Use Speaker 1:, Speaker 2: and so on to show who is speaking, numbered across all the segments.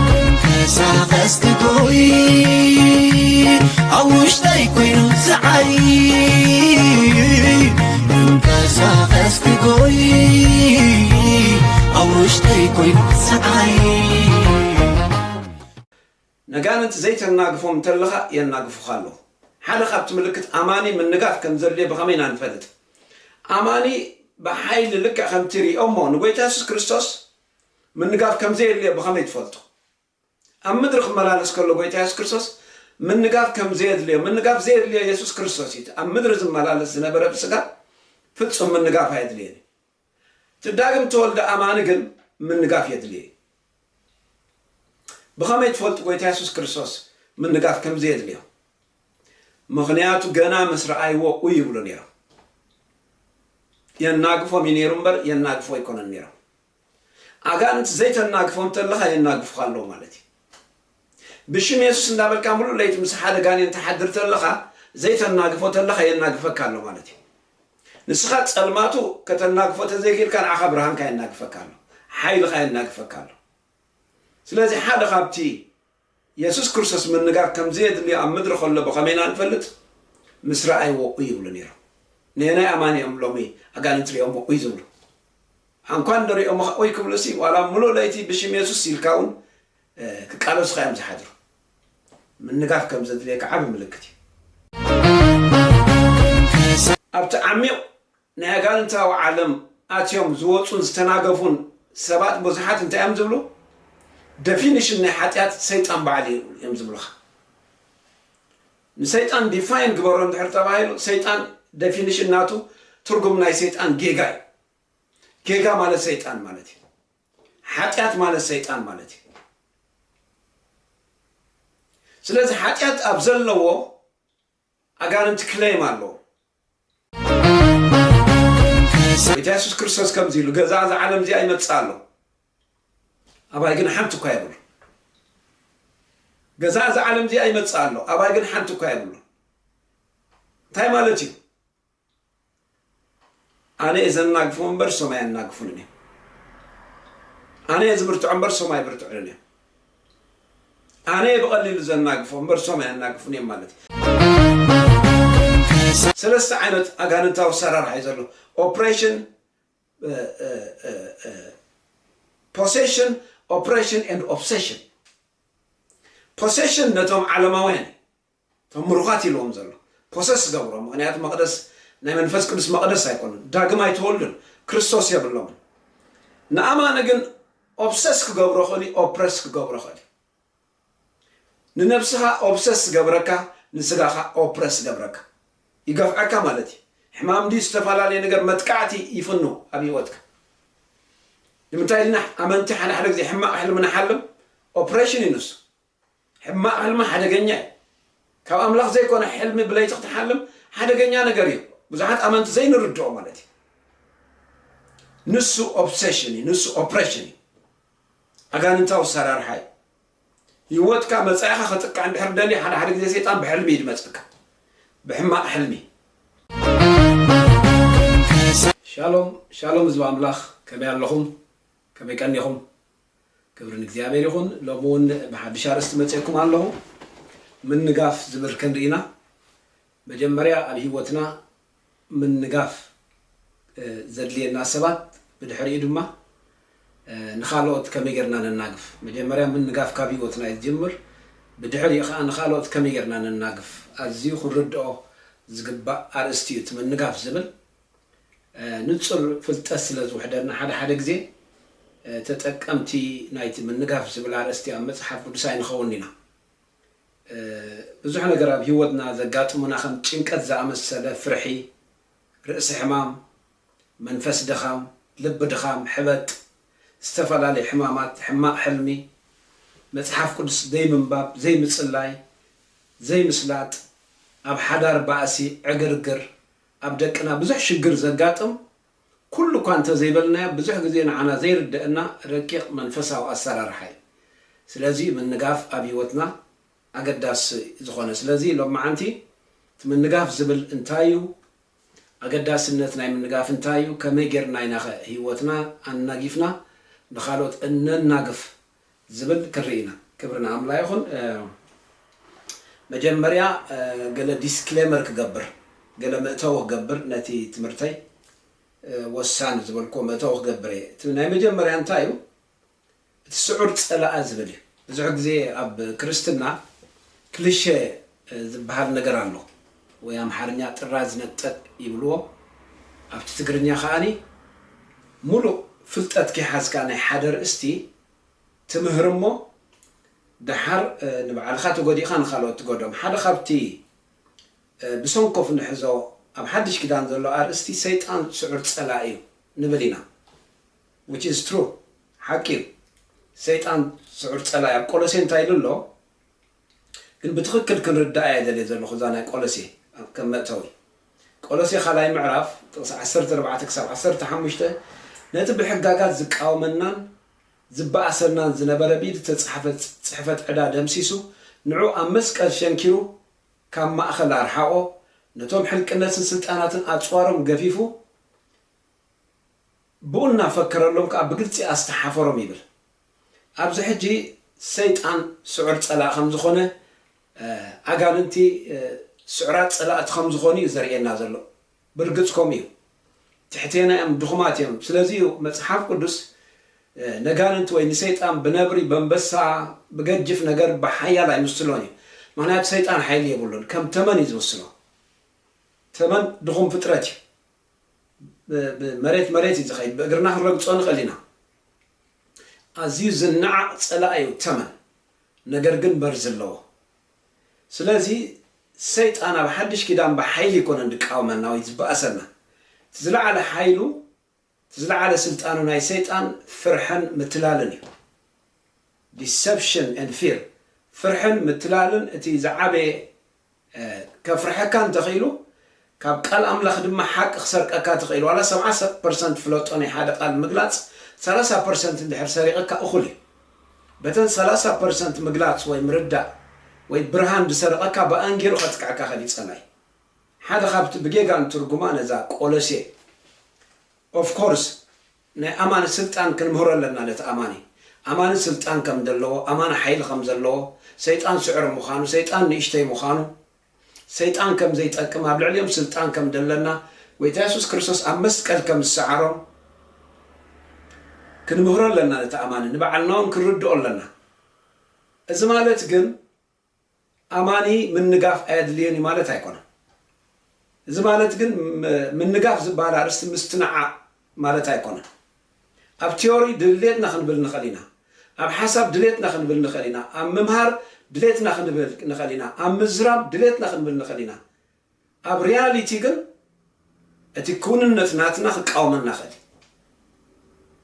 Speaker 1: ክንቀሳቐስ ክጎይ ኣብ ውሽጠይ ኮይኑ ዝዓይ ክንቀሳቐስ ክጎይ ኣብ ውሽጠይ ኮይኑ ዝዓይ ነጋንንቲ ዘይተናግፎም እንተለኻ የናግፉኻ ኣለዉ ሓደ ካብቲ ምልክት ኣማኒ ምንጋፍ ከም ዘድልዮ ብኸመይ ኢና ንፈልጥ ኣማኒ ብሓይሊ ልክዕ ከምቲ ሪኦሞ ንጎይታ የሱስ ክርስቶስ ምንጋፍ ከም ዘየድልዮ ብኸመይ ትፈልጡ? ኣብ ምድሪ ክመላለስ ከሎ ጎይታ የሱስ ክርስቶስ ምንጋፍ ከም ዘየድልዮ ምንጋፍ ዘየድልዮ የሱስ ክርስቶስ እዩ። እቲ ኣብ ምድሪ ዝመላለስ ዝነበረ ብስጋ ፍጹም ምንጋፍ ኣየድልዮን እዩ። እቲ ዳግም ተወልደ ኣማኒ ግን ምንጋፍ የድልዮ እዩ። ብኸመይ ትፈልጡ ጎይታ የሱስ ክርስቶስ ምንጋፍ ከም ዘየድልዮ? ምኽንያቱ ገና ምስ ረኣይዎ ኡይ ይብሉ ነይሮም። የናግፎም እዩ ነይሩ እምበር የናግፎ ኣይኮነን ነይሮም። ኣጋንንት ዘይተናግፎ እንተለኻ የናግፉኻ ኣለዉ ማለት እዩ። ብሽም የሱስ እንዳበልካ ምሉእ ለይቲ ምስ ሓደ ጋኔን ትሓድር ተለኻ ዘይተናግፎ ተለኻ የናግፈካ ኣሎ ማለት እዩ። ንስኻ ጸልማቱ ከተናግፎ ተዘይክኢልካ ንዓኻ ብርሃንካ የናግፈካ ኣሎ፣ ሓይልኻ የናግፈካ ኣሎ። ስለዚ ሓደ ካብቲ የሱስ ክርስቶስ ምንጋር ከም ዘየድልዮ ኣብ ምድሪ ኸሎ ብኸመይ ኢና እንፈልጥ? ምስ ረኣይዎ ኡይ ይብሉ ነይሮም። ነየናይ ኣማኒ እዮም ሎሚ ኣጋንንቲ ርእዮሞ ኡይ ዝብሉ? ኣንኳ እንዶ ርእዮምኻ ኡይ ክብሉሲ ዋላ ምሉእ ለይቲ ብሽም የሱስ ኢልካ እውን ክቃለሱኻ እዮም ዝሓድሩ። ምንጋር ከም ዘድልየካ ዓቢ ምልክት እዩ። ኣብቲ ዓሚቕ ናይ ኣጋንንታዊ ዓለም ኣትዮም ዝወጹን ዝተናገፉን ሰባት ብዙሓት እንታይ እዮም ዝብሉ ደፊንሽን ናይ ሓጢኣት ሰይጣን ባዕሉ እዩ እዮም ዝብሉኻ ንሰይጣን ዲፋይን ግበሮ እንድሕር ተባሂሉ ሰይጣን ደፊንሽን ናቱ ትርጉም ናይ ሰይጣን ጌጋ እዩ ጌጋ ማለት ሰይጣን ማለት እዩ ሓጢኣት ማለት ሰይጣን ማለት እዩ ስለዚ ሓጢኣት ኣብ ዘለዎ ኣጋንንቲ ክለይም ኣለዎ። ጎይታ የሱስ ክርስቶስ ከምዚ ኢሉ ገዛ እዛ ዓለም እዚኣ ይመጽእ ኣሎ ኣባይ ግን ሓንቲ እኳ የብሉ ገዛ እዛ ዓለም እዚኣ ይመጽእ ኣሎ ኣባይ ግን ሓንቲ እኳ የብሉ እንታይ ማለት እዩ? ኣነ እየ ዘናግፎም እምበር እሶም ኣየናግፉንን እዮም። ኣነ እየ ዝብርትዖ እምበር እሶም ኣይብርትዑንን እዮም። ኣነ እየ ብቐሊሉ ዘናግፎም እምበር እሶም ኣየናግፉን እዮም ማለት እዩ። ሰለስተ ዓይነት ኣጋንንታዊ ኣሰራርሓ እዩ ዘሎ ኦፕሬሽን ፖሴሽን ኦፕሬሽን ኤንድ ኦብሴሽን ፖሴሽን ነቶም ዓለማውያን እቶም ምሩኻት ኢልዎም ዘሎ ፖሰስ ዝገብሮም ምኽንያቱ መቕደስ ናይ መንፈስ ቅዱስ መቕደስ ኣይኮኑን ዳግም ኣይተወልዱን ክርስቶስ የብሎምን ንኣማኒ ግን ኦብሰስ ክገብሮ ክእል እዩ ኦፕረስ ክገብሮ ክእል እዩ ንነብስኻ ኦብሰስ ዝገብረካ ንስጋኻ ኦፕረስ ዝገብረካ ይገፍዐካ ማለት እዩ ሕማም ድዩ ዝተፈላለየ ነገር መጥቃዕቲ ይፍኑ ኣብ ህይወትካ ንምንታይ ኢልና ኣመንቲ ሓደ ሓደ ግዜ ሕማቕ ሕልሚ ንሓልም ኦፕሬሽን እዩ ንሱ ሕማቅ ሕልሚ ሓደገኛ እዩ ካብ ኣምላኽ ዘይኮነ ሕልሚ ብለይቲ ክትሓልም ሓደገኛ ነገር እዩ ብዙሓት ኣመንቲ ዘይንርድኦ ማለት እዩ ንሱ ኦብሰሽን እዩ ንሱ ኦፕሬሽን እዩ ኣጋንንታዊ ሰራርሓ እዩ ህይወትካ መጻኢኻ ከጥቅዕ እንድሕር ደልዩ ሓደ ሓደ ግዜ ሰይጣን ብሕልሚ እዩ ድመጸካ ብሕማቅ ሕልሚ ሻሎም ሻሎም ህዝቢ ኣምላኽ ከመይ ኣለኹም ከመይ ቀኒኹም ክብሪ ንእግዚኣብሔር ይኹን ሎሚ እውን ብሓድሽ ኣርእስቲ መጼኩም ኣለኹ ምንጋፍ ዝብል ከንሪ ኢና መጀመርያ ኣብ ሂወትና ምንጋፍ ዘድልየና ሰባት ብድሕሪኡ ድማ ንኻልኦት ከመይ ጌርና ነናግፍ መጀመርያ ምንጋፍ ካብ ሂወትና እዩ ዝጅምር ብድሕሪኡ ኸኣ ንኻልኦት ከመይ ጌርና ነናግፍ ኣዝዩ ክንርድኦ ዝግባእ ኣርእስቲ እዩ እቲ ምንጋፍ ዝብል ንጹር ፍልጠት ስለ ዝውሕደና ሓደ ሓደ ግዜ ተጠቀምቲ ናይቲ ምንጋፍ ዝብል ኣርእስቲ ኣብ መጽሓፍ ቅዱስ ኣይንኸውንን ኢና። ብዙሕ ነገር ኣብ ህይወትና ዘጋጥሙና ከም ጭንቀት ዝኣመሰለ ፍርሒ፣ ርእሲ ሕማም፣ መንፈስ ድኻም፣ ልቢ ድኻም፣ ሕበጥ፣ ዝተፈላለዩ ሕማማት፣ ሕማቕ ሕልሚ፣ መጽሓፍ ቅዱስ ዘይምንባብ፣ ዘይምጽላይ፣ ዘይምስላጥ፣ ኣብ ሓዳር ባእሲ፣ ዕግርግር፣ ኣብ ደቅና ብዙሕ ሽግር ዘጋጥም ኩሉ እኳ እንተ ዘይበልናዮ ብዙሕ ግዜ ንዓና ዘይርደእና ረቂቕ መንፈሳዊ ኣሰራርሓ እዩ። ስለዚ እዩ ምንጋፍ ኣብ ህይወትና ኣገዳሲ ዝኾነ። ስለዚ ሎምዓንቲ እቲ ምንጋፍ ዝብል እንታይ እዩ? ኣገዳስነት ናይ ምንጋፍ እንታይ እዩ? ከመይ ጌርና ኢናኸ ህይወትና ኣናጊፍና ንኻልኦት እነናግፍ? ዝብል ክርኢ ኢና ክብሪ ንኣምላ ይኹን መጀመርያ ገለ ዲስክሌመር ክገብር ገለ መእተዊ ክገብር ነቲ ትምህርተይ ወሳኒ ዝበልክዎ መእተዊ ክገብር እየ እቲ ናይ መጀመርያ እንታይ እዩ እቲ ስዑር ጸላኣ ዝብል እዩ ብዙሕ ግዜ ኣብ ክርስትና ክልሸ ዝብሃል ነገር ኣሎ ወይ ኣምሓርኛ ጥራዝ ነጠቅ ይብልዎ ኣብቲ ትግርኛ ከኣ ሙሉእ ፍልጠት ከይሓዝካ ናይ ሓደ ርእስቲ ትምህር እሞ ደሓር ንባዕልካ ተጎዲእካ ንካልኦት ትጎድኦም ሓደ ካብቲ ብሰንኮፍ ንሕዞ ኣብ ሓድሽ ኪዳን ዘሎ ኣርእስቲ ሰይጣን ስዑር ጸላኢ እዩ ንብል ኢና which is true ሓቂ እዩ ሰይጣን ስዑር ጸላኢ ኣብ ቆሎሴ እንታይ ኢሉ ኣሎ ግን ብትኽክል ክንርድኣ እየ ደልየ ዘለኹ እዛ ናይ ቆሎሴ ከም መእተዊ ቆሎሴ ካልኣይ ምዕራፍ ጥቕሲ ዓሰርተ ኣርባዕተ ክሳብ ዓሰርተ ሓሙሽተ ነቲ ብሕጋጋት ዝቃወመናን ዝበኣሰናን ዝነበረ ብኢድ እተጻሕፈ ጽሕፈት ዕዳ ደምሲሱ ንዑ ኣብ መስቀል ሸንኪሩ ካብ ማእኸል ኣርሓቖ ነቶም ሕልቅነትን ስልጣናትን ኣጽዋሮም ገፊፉ ብኡ እናፈከረሎም ከኣ ብግልጺ ኣስተሓፈሮም ይብል። ኣብዚ ሕጂ ሰይጣን ስዑር ጸላኢ ከም ዝኾነ፣ ኣጋንንቲ ስዑራት ጸላእቲ ከም ዝኾኑ እዩ ዘርእየና ዘሎ። ብርግጽ ከምኡ እዩ። ትሕቴና እዮም፣ ድኹማት እዮም። ስለዚ እዩ መጽሓፍ ቅዱስ ነጋንንቲ ወይ ንሰይጣን ብነብሪ፣ በንበሳ፣ ብገጅፍ ነገር፣ ብሓያል ኣይምስሎን እዩ። ምኽንያቱ ሰይጣን ሓይሊ የብሉን። ከም ተመን እዩ ዝምስሎ። ተመን ድኹም ፍጥረት እዩ። ብመሬት መሬት እዩ ዝኸይድ ብእግርና ክንረግጾ ንኽእል ኢና። ኣዝዩ ዝነዓቕ ጸላኢ እዩ ተመን ነገር ግን መርዚ ኣለዎ። ስለዚ ሰይጣን ኣብ ሓድሽ ኪዳን ብሓይሊ ኣይኮነን ዝቃወመና ወይ ዝበኣሰና። እቲ ዝለዓለ ሓይሉ እቲ ዝለዓለ ስልጣኑ ናይ ሰይጣን ፍርሕን ምትላልን እዩ። Deception and Fear ፍርሕን ምትላልን እቲ ዝዓበየ ከፍርሐካ እንተ ኺኢሉ ካብ ቃል ኣምላኽ ድማ ሓቂ ክሰርቀካ ትኽኢል ዋላ ሰብዓ ፐርሰንት ፍለጦ ናይ ሓደ ቃል ምግላጽ ሰላሳ ፐርሰንት እንድሕር ሰሪቕካ እኹል እዩ በተን ሰላሳ ፐርሰንት ምግላጽ ወይ ምርዳእ ወይ ብርሃን ድሰርቐካ ብኣን ጌሩ ከጥቅዐካ ይኽእል እዩ ጸላይ ሓደ ካብቲ ብጌጋ ንትርጉማ ነዛ ቆሎሴ ኦፍ ኮርስ ናይ ኣማን ስልጣን ክንምህሮ ኣለና ነቲ ኣማኒ ኣማኒ ስልጣን ከም ደለዎ ኣማኒ ሓይሊ ከም ዘለዎ ሰይጣን ስዕሪ ምዃኑ ሰይጣን ንእሽተይ ምዃኑ ሰይጣን ከም ዘይጠቅም ኣብ ልዕሊኦም ስልጣን ከም ደለና ጎይታ የሱስ ክርስቶስ ኣብ መስቀል ከም ዝሰዓሮም ክንምህሮ ኣለና ነቲ ኣማኒ ንባዕልና ውን ክንርድኦ ኣለና እዚ ማለት ግን ኣማኒ ምንጋፍ ኣየድልዮን እዩ ማለት ኣይኮነን። እዚ ማለት ግን ምንጋፍ ዝበሃል ኣርእስቲ ምስትንዓቕ ማለት ኣይኮነን። ኣብ ትዮሪ ድልየትና ክንብል ንኽእል ኢና፣ ኣብ ሓሳብ ድልየትና ክንብል ንኽእል ኢና፣ ኣብ ምምሃር ድልየትና ክንብል ንኽእል ኢና፣ ኣብ ምዝራብ ድልየትና ክንብል ንኽእል ኢና፣ ኣብ ሪያሊቲ ግን እቲ ክውንነት ናትና ክቃወመና ይኽእል እዩ።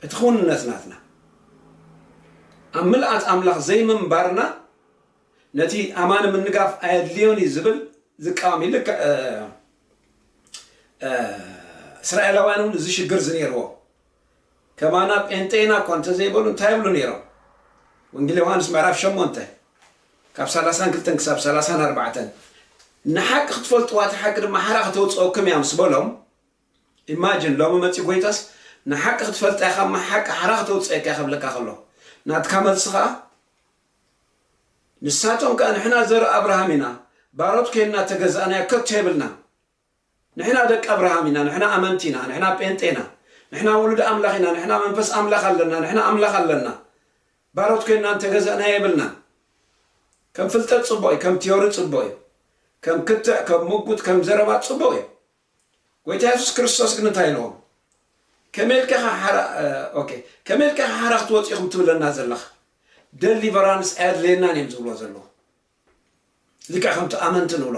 Speaker 1: እቲ ክውንነት ናትና ኣብ ምልኣት ኣምላኽ ዘይምንባርና ነቲ ኣማኒ ምንጋፍ ኣየድልዮን እዩ ዝብል ዝቃወም እዩ። ልክዕ እ፣ እ፣ እስራኤላውያን እውን እዚ ሽግር እዚ ነይርዎም። ከማና ጴንጤ ኢና እኳ እንተ ዘይበሉ እንታይ ይብሉ ነይሮም? ወንጌል ዮሃንስ ምዕራፍ ሸሞንተ ካብ ሰላሳን ክልተን ክሳብ ሰላሳን ኣርባዕተን ንሓቂ ክትፈልጥዋ እታ ሓቂ ድማ ሓራ ከተውፅኦኩም እያ ምስ በሎም ኢማጅን ሎሚ መፂ ጎይታስ ንሓቂ ክትፈልጣ ኢኻ እማ ሓቂ ሓራ ከተውፅአካ እያ ከብለካ ከሎ ናትካ መልሲ ከዓ ንሳቶም ከዓ ንሕና ዘርኢ ኣብርሃም ኢና ባሮት ኮይንና ተገዛእናዮ ከቶ የብልና ንሕና ደቂ ኣብርሃም ኢና ንሕና ኣመንቲ ኢና ንሕና ጴንጤ ኢና ንሕና ውሉድ ኣምላኽ ኢና ንሕና መንፈስ ኣምላኽ ኣለና ንሕና ኣምላኽ ኣለና ባሮት ኮይንና እንተገዘእናዮ የብልናን ከም ፍልጠት ጽቡቕ እዩ ከም ትዮሪ ጽቡቕ እዩ ከም ክትዕ ከም ምጉት ከም ዘረባ ጽቡቕ እዩ ጎይታ የሱስ ክርስቶስ ግን እንታይ ኢልዎም ከመይ ኢልካ ኢኻ ሓራ ኦኬ ከመይ ኢልካ ኢኻ ሓራ ክትወጽ ኢኹም ትብለና ዘለኻ ደሊቨራንስ ኣየድልየናን እዮም ዝብልዎ ዘለዉ ልክዕ ከምቲ ኣመንቲ ንብሎ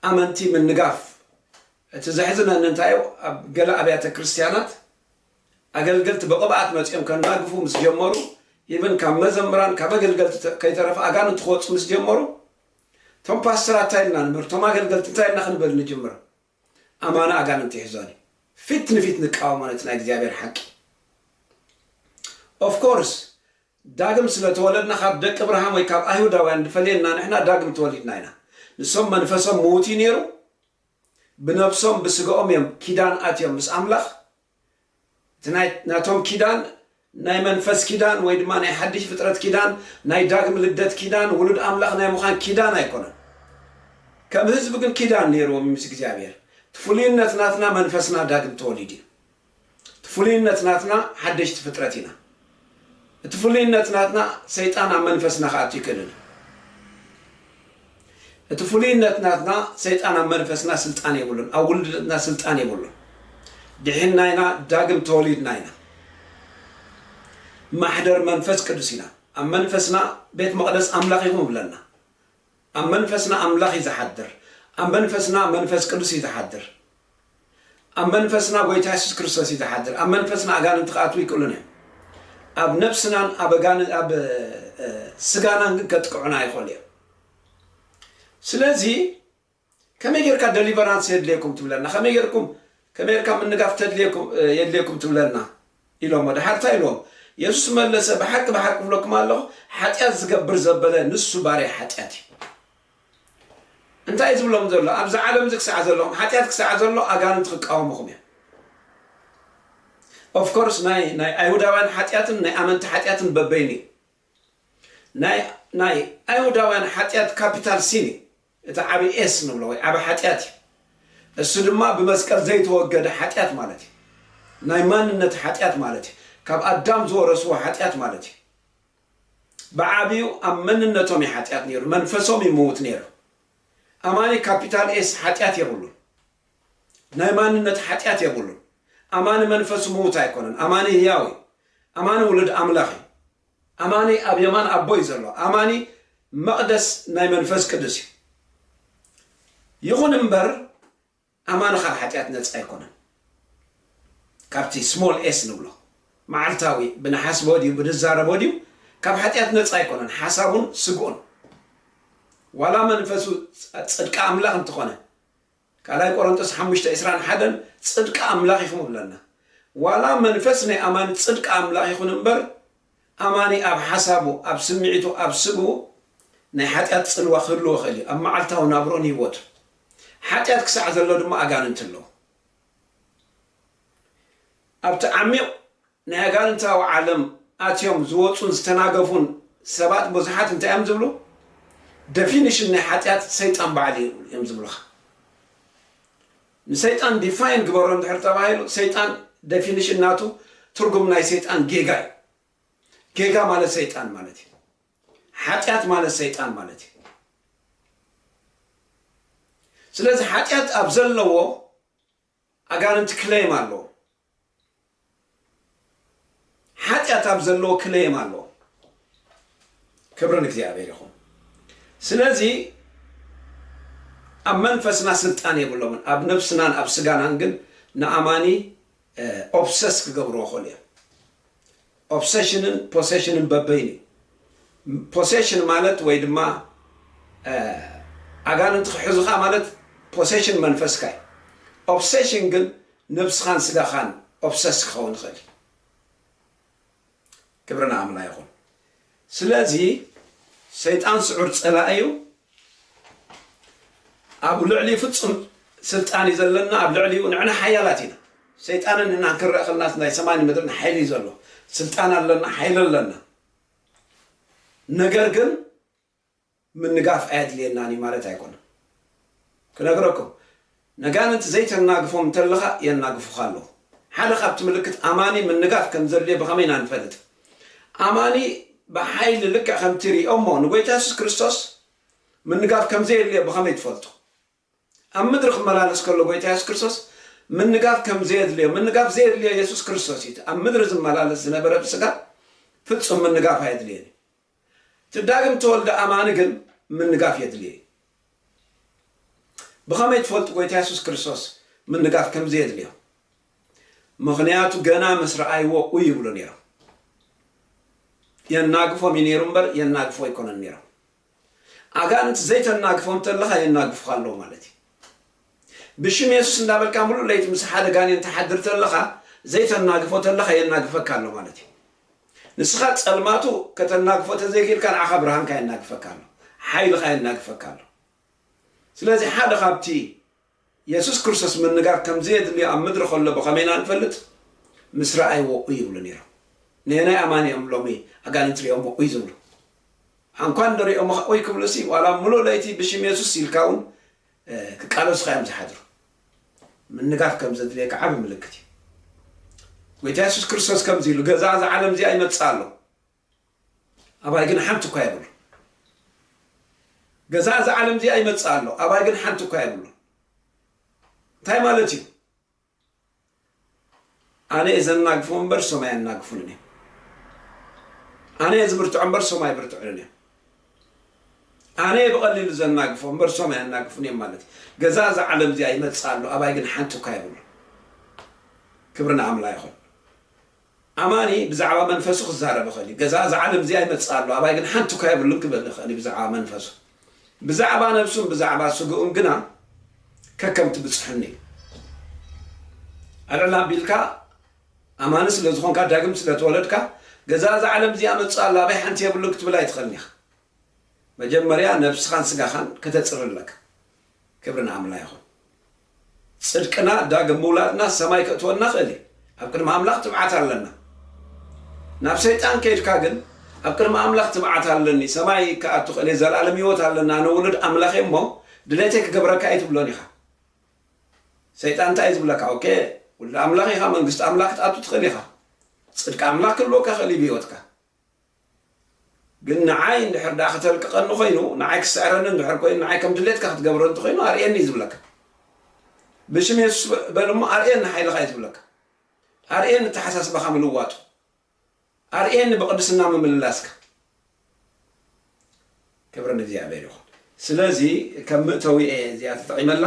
Speaker 1: ኣመንቲ ምንጋፍ እቲ ዘሕዝነኒ እንታይ እዩ ኣብ ገለ ኣብያተ ክርስትያናት ኣገልገልቲ ብቕብኣት መጺኦም ከናግፉ ምስ ጀመሩ ኢቭን ካብ መዘምራን ካብ ኣገልገልቲ ተ- ከይተረፈ ኣጋንንቲ ክወጹ ምስ ጀመሩ እቶም ፓስተራት እንታይ ኢልና ንምህር እቶም ኣገልገልቲ እንታይ ኢልና ክንብል ንጅምር ኣማና ኣጋንንቲ ይሕዞን እዩ ፊት ንፊት ንቃወሞ ነቲ ናይ እግዚኣብሔር ሓቂ of course ዳግም ስለ ተወለድና ካብ ደቂ ኣብርሃም ወይ ካብ ኣይሁዳውያን ድፈልየና ንሕና ዳግም ተወሊድና ኢና ንሶም መንፈሶም ምዉት እዩ ነይሩ ብነብሶም ብስጋኦም እዮም ኪዳን ኣትዮም ምስ ኣምላኽ እቲ ናይ ናቶም ኪዳን ናይ መንፈስ ኪዳን ወይ ድማ ናይ ሓድሽ ፍጥረት ኪዳን ናይ ዳግም ልደት ኪዳን ውሉድ ኣምላኽ ናይ ምዃን ኪዳን ኣይኮነን ከም ህዝቢ ግን ኪዳን ነይርዎም እዩ ምስ እግዚኣብሔር እቲ ፍሉይነት ናትና መንፈስና ዳግም ተወሊዱ እዩ እቲ ፍሉይነት ናትና ሓደሽቲ ፍጥረት ኢና እቲ ፍሉይነት ናትና ሰይጣን ኣብ መንፈስና ክኣቱ ኣይክእልን እዩ። እቲ ፍሉይነት ናትና ሰይጣን ኣብ መንፈስና ስልጣን የብሉን፣ ኣብ ውልድነትና ስልጣን የብሉን። ድሒንና ኢና፣ ዳግም ተወሊድና ኢና፣ ማሕደር መንፈስ ቅዱስ ኢና፣ ኣብ መንፈስና ቤት መቕደስ ኣምላኽ ኢኹም ይብለና። ኣብ መንፈስና ኣምላኽ እዩ ዝሓድር። ኣብ መንፈስና መንፈስ ቅዱስ እዩ ዝሓድር። ኣብ መንፈስና ጎይታ የሱስ ክርስቶስ እዩ ዝሓድር። ኣብ መንፈስና ኣጋንንቲ ክኣትዉ ኣይክእሉን እዮም። ኣብ ነብስናን ኣብ ኣጋን ኣብ ስጋናን ግን ከጥቅዑና ይኽእሉ እዮም። ስለዚ ከመይ ጌርካ ደሊቨራንስ የድልየኩም ትብለና? ከመይ ጌርኩም ከመይ ጌርካ ምንጋፍ ተድልየኩም የድልየኩም ትብለና? ኢሎሞ። ደሓር ታይ ኢልዎም? የሱስ መለሰ፣ ብሓቂ ብሓቂ እብለኩም ኣሎኹ፣ ሓጢኣት ዚገብር ዘበለ ንሱ ባርያ ሓጢኣት እዩ። እንታይ እዩ ዝብሎም ዘሎ? ኣብዚ ዓለም እዚ ክሳዕ ዘለኹም፣ ሓጢኣት ክሳዕ ዘሎ ኣጋንንቲ ክቃወሙኹም እዮም። ኦፍ ኮርስ ናይ ናይ ኣይሁዳውያን ሓጢኣትን ናይ ኣመንቲ ሓጢኣትን በበይኑ እዩ። ናይ ናይ ኣይሁዳውያን ሓጢኣት ካፒታል ሲን እዩ። እቲ ዓቢ ኤስ ንብሎ ወይ ዓቢ ሓጢኣት እዩ። እሱ ድማ ብመስቀል ዘይተወገደ ሓጢኣት ማለት እዩ። ናይ ማንነት ሓጢኣት ማለት እዩ። ካብ ኣዳም ዝወረስዎ ሓጢኣት ማለት እዩ። ብዓቢኡ ኣብ መንነቶም እዩ ሓጢኣት ነይሩ፣ መንፈሶም እዩ ምዉት ነይሩ። ኣማኒ ካፒታል ኤስ ሓጢኣት የብሉን። ናይ ማንነት ሓጢኣት የብሉን። ኣማኒ መንፈሱ ምዉት ኣይኮነን። ኣማኒ ህያው እዩ። ኣማኒ ውሉድ ኣምላኽ እዩ። ኣማኒ ኣብ የማን ኣቦ እዩ ዘሎ። ኣማኒ መቕደስ ናይ መንፈስ ቅዱስ እዩ። ይኹን እምበር ኣማኒ ካብ ሓጢኣት ነፃ ኣይኮነን። ካብቲ ስሞል ኤስ ንብሎ መዓልታዊ ብንሓስቦ ድዩ ብንዛረቦ ድዩ ካብ ሓጢኣት ነፃ ኣይኮነን። ሓሳቡን ስግኡን ዋላ መንፈሱ ጽድቂ ኣምላኽ እንተኾነ ካልኣይ ቆሮንጦስ ሓሙሽተ ዕስራን ሓደን ጽድቂ ኣምላኽ ኢኹም እብለና። ዋላ መንፈስ ናይ ኣማኒ ጽድቂ ኣምላኽ ይኹን እምበር፣ ኣማኒ ኣብ ሓሳቡ፣ ኣብ ስምዒቱ፣ ኣብ ስግኡ ናይ ሓጢኣት ጽልዋ ክህልዎ ይኽእል እዩ፣ ኣብ መዓልታዊ ናብርኡን ህይወቱን። ሓጢኣት ክሳዕ ዘሎ ድማ ኣጋንንቲ ኣለዉ። ኣብቲ ዓሚቕ ናይ ኣጋንንታዊ ዓለም ኣትዮም ዝወጹን ዝተናገፉን ሰባት ብዙሓት እንታይ እዮም ዝብሉ ደፊንሽን ናይ ሓጢኣት ሰይጣን ባዕሉ እዩ እዮም ዝብሉኻ ንሰይጣን ዲፋይን ግበሮ እንድሕር ተባሂሉ ሰይጣን ደፊንሽን ናቱ ትርጉም ናይ ሰይጣን ጌጋ እዩ ጌጋ ማለት ሰይጣን ማለት እዩ ሓጢኣት ማለት ሰይጣን ማለት እዩ ስለዚ ሓጢኣት ኣብ ዘለዎ ኣጋንንቲ ክለይም ኣለዎ ሓጢኣት ኣብ ዘለዎ ክለይም ኣለዎ ክብሪ ንእግዚኣብሔር ይኹን ስለዚ ኣብ መንፈስና ስልጣን የብሎምን ኣብ ነብስናን ኣብ ስጋናን ግን ንኣማኒ ኦብሰስ ክገብርዎ ኸሉ እዮም ኦብሰሽንን ፖሰሽንን በበይኑ እዩ። ፖሰሽን ማለት ወይ ድማ ኣጋንንቲ ክሕዙኻ ማለት ፖሰሽን መንፈስካ እዩ። ኦብሰሽን ግን ነብስኻን ስጋኻን ኦብሰስ ክኸውን ይኽእል እዩ። ክብሪ ንኣምላ ይኹን። ስለዚ ሰይጣን ስዑር ጸላኢ እዩ ኣብ ልዕሊኡ ፍጹም ስልጣን እዩ ዘለና ኣብ ልዕሊኡ ንዕና ሓያላት ኢና ሰይጣንን ንሕናን ክንረእ ከለናስ ናይ ሰማይን ምድርን ሓይሊ እዩ ዘሎ ስልጣን ኣለና ሓይሊ ኣለና ነገር ግን ምንጋፍ ኣየድልየናን እዩ ማለት ኣይኮነን ክነግረኩም ነጋንንት ዘይተናግፎም እንተለኻ የናግፉኻ ኣለዉ ሓደ ካብቲ ምልክት ኣማኒ ምንጋፍ ከም ዘድልዮ ብኸመይ ኢና ንፈልጥ ኣማኒ ብሓይሊ ልክዕ ከምቲ ሪኦሞ ንጎይታ የሱስ ክርስቶስ ምንጋፍ ከም ዘየድልዮ ብኸመይ ትፈልጡ ኣብ ምድሪ ክመላለስ ከሎ ጎይታ የሱስ ክርስቶስ ምንጋፍ ከም ዘየድልዮ ምንጋፍ ዘየድልዮ የሱስ ክርስቶስ እዩ እቲ ኣብ ምድሪ ዝመላለስ ዝነበረ ብስጋ ፍጹም ምንጋፍ ኣየድልዮን እዩ እቲ ዳግም ተወልደ ኣማኒ ግን ምንጋፍ የድልዮ እዩ ብኸመይ ትፈልጡ ጎይታ የሱስ ክርስቶስ ምንጋፍ ከም ዘየድልዮ ምክንያቱ ገና ምስ ረኣይዎ ኡ ይብሉ ነይሮም የናግፎም እዩ ነይሩ እምበር የናግፎ ኣይኮነን ነይሮም ኣጋንንቲ ዘይተናግፎም እንተለኻ የናግፉኻ ኣለዉ ማለት እዩ። ብሽም የሱስ እንዳበልካ ምሉእ ለይቲ ምስ ሓደ ጋኔን ትሓድር ተለኻ ዘይተናግፎ ተለኻ የናግፈካ ኣሎ ማለት እዩ። ንስኻ ጸልማቱ ከተናግፎ ተዘይክኢልካ ንዓኻ ብርሃንካ የናግፈካ ኣሎ፣ ሓይልኻ የናግፈካ ኣሎ። ስለዚ ሓደ ካብቲ የሱስ ክርስቶስ ምንጋር ከም ዘየድልዮ ኣብ ምድሪ ኸሎ ብኸመይ ኢና እንፈልጥ? ምስ ረኣይዎ ኡይ ይብሉ ነይሮም። ነየናይ ኣማኒ እዮም ሎሚ ኣጋንንቲ ሪኦሞ ኡይ ዝብሉ? ሓንኳን እንዶ ሪኦምኻ ኡይ ክብሉሲ ዋላ ምሉእ ለይቲ ብሽም የሱስ ኢልካ እውን ክቃለሱኻ እዮም ዝሓድሩ። ምንጋር ከም ዘድልየካ ዓቢ ምልክት እዩ። ጐይታ የሱስ ክርስቶስ ከምዚ ኢሉ ገዛ እዛ ዓለም እዚኣ ይመጽእ ኣሎ። ኣባይ ግን ሓንቲ እኳ የብሉን። ገዛእ እዛ ዓለም እዚኣ ይመጽእ ኣሎ፣ ኣባይ ግን ሓንቲ እኳ የብሉን። እንታይ ማለት እዩ? ኣነ እየ ዘናግፎም እምበር እሶም ኣየናግፉንን እዮም። ኣነ እየ ዝብርትዖ እምበር እሶም ኣይብርትዑንን እዮም። ኣነ እየ ብቐሊሉ ዘናግፎ እምበር እሶም ኣየናግፉን እዮም ማለት እዩ። ገዛእ እዛ ዓለም እዚኣ ይመጽእ ኣሎ፣ ኣባይ ግን ሓንቲ እኳ የብሉን። ክብሪ ንኣምላ ይኹን። ኣማኒ ብዛዕባ መንፈሱ ክዛረብ ይኽእል እዩ። ገዛ እዛ ዓለም እዚኣ ይመጽእ ኣሎ፣ ኣባይ ግን ሓንቲ እኳ የብሉን ክብል ይኽእል እዩ ብዛዕባ መንፈሱ። ብዛዕባ ነብሱን ብዛዕባ ስግኡን ግና ከከምቲ ብጽሑኒ እዩ። ኣልዕል ኣቢልካ ኣማኒ ስለ ዝኾንካ ዳግም ስለ ተወለድካ ገዛ እዛ ዓለም እዚኣ መጽእ ኣሎ፣ ኣባይ ሓንቲ የብሉን ክትብል ኣይትኽእልን ኢኻ። መጀመርያ ነብስኻን ስጋኻን ከተጽሪ ኣለካ። ክብሪ ንኣምላ ይኹን ጽድቅና ዳግም ምውላድና ሰማይ ክእትወና ክእል እዩ ኣብ ቅድሚ ኣምላኽ ትብዓት ኣለና ናብ ሰይጣን ከይድካ ግን ኣብ ቅድሚ ኣምላኽ ትብዓት ኣለኒ ሰማይ ክኣቱ ክእል ዘላለም ህይወት ኣለና ኣነ ውሉድ ኣምላኽ እየ እሞ ድሌተይ ክገብረካ ኣይትብሎን ኢኻ ሰይጣን እንታይ ዝብለካ ኦኬ ውሉድ ኣምላኽ ኢኻ መንግስቲ ኣምላኽ ክትኣቱ ትኽእል ኢኻ ጽድቂ ኣምላኽ ክህልወካ ክእል እዩ ብህይወትካ ግን ንዓይ እንድሕር ደኣ ክተልቅቐኒ ኮይኑ፣ ንዓይ ክስዕረኒ እንድሕር ኮይኑ፣ ንዓይ ከም ድሌትካ ክትገብሮ እንተኾይኑ ኣርእየኒ እዩ ዝብለካ። ብሽም የሱስ በል እሞ ኣርእየኒ ሓይልኻ እዩ ዝብለካ። ኣርእየኒ ኣተሓሳስባኻ ምልዋጡ። ኣርእየኒ ብቕድስና ምምልላስካ። ክብሪ ንእግዚኣብሔር ይኹን ስለዚ ከም ምእተዊ እየ እዚኣ ተጠቂመላ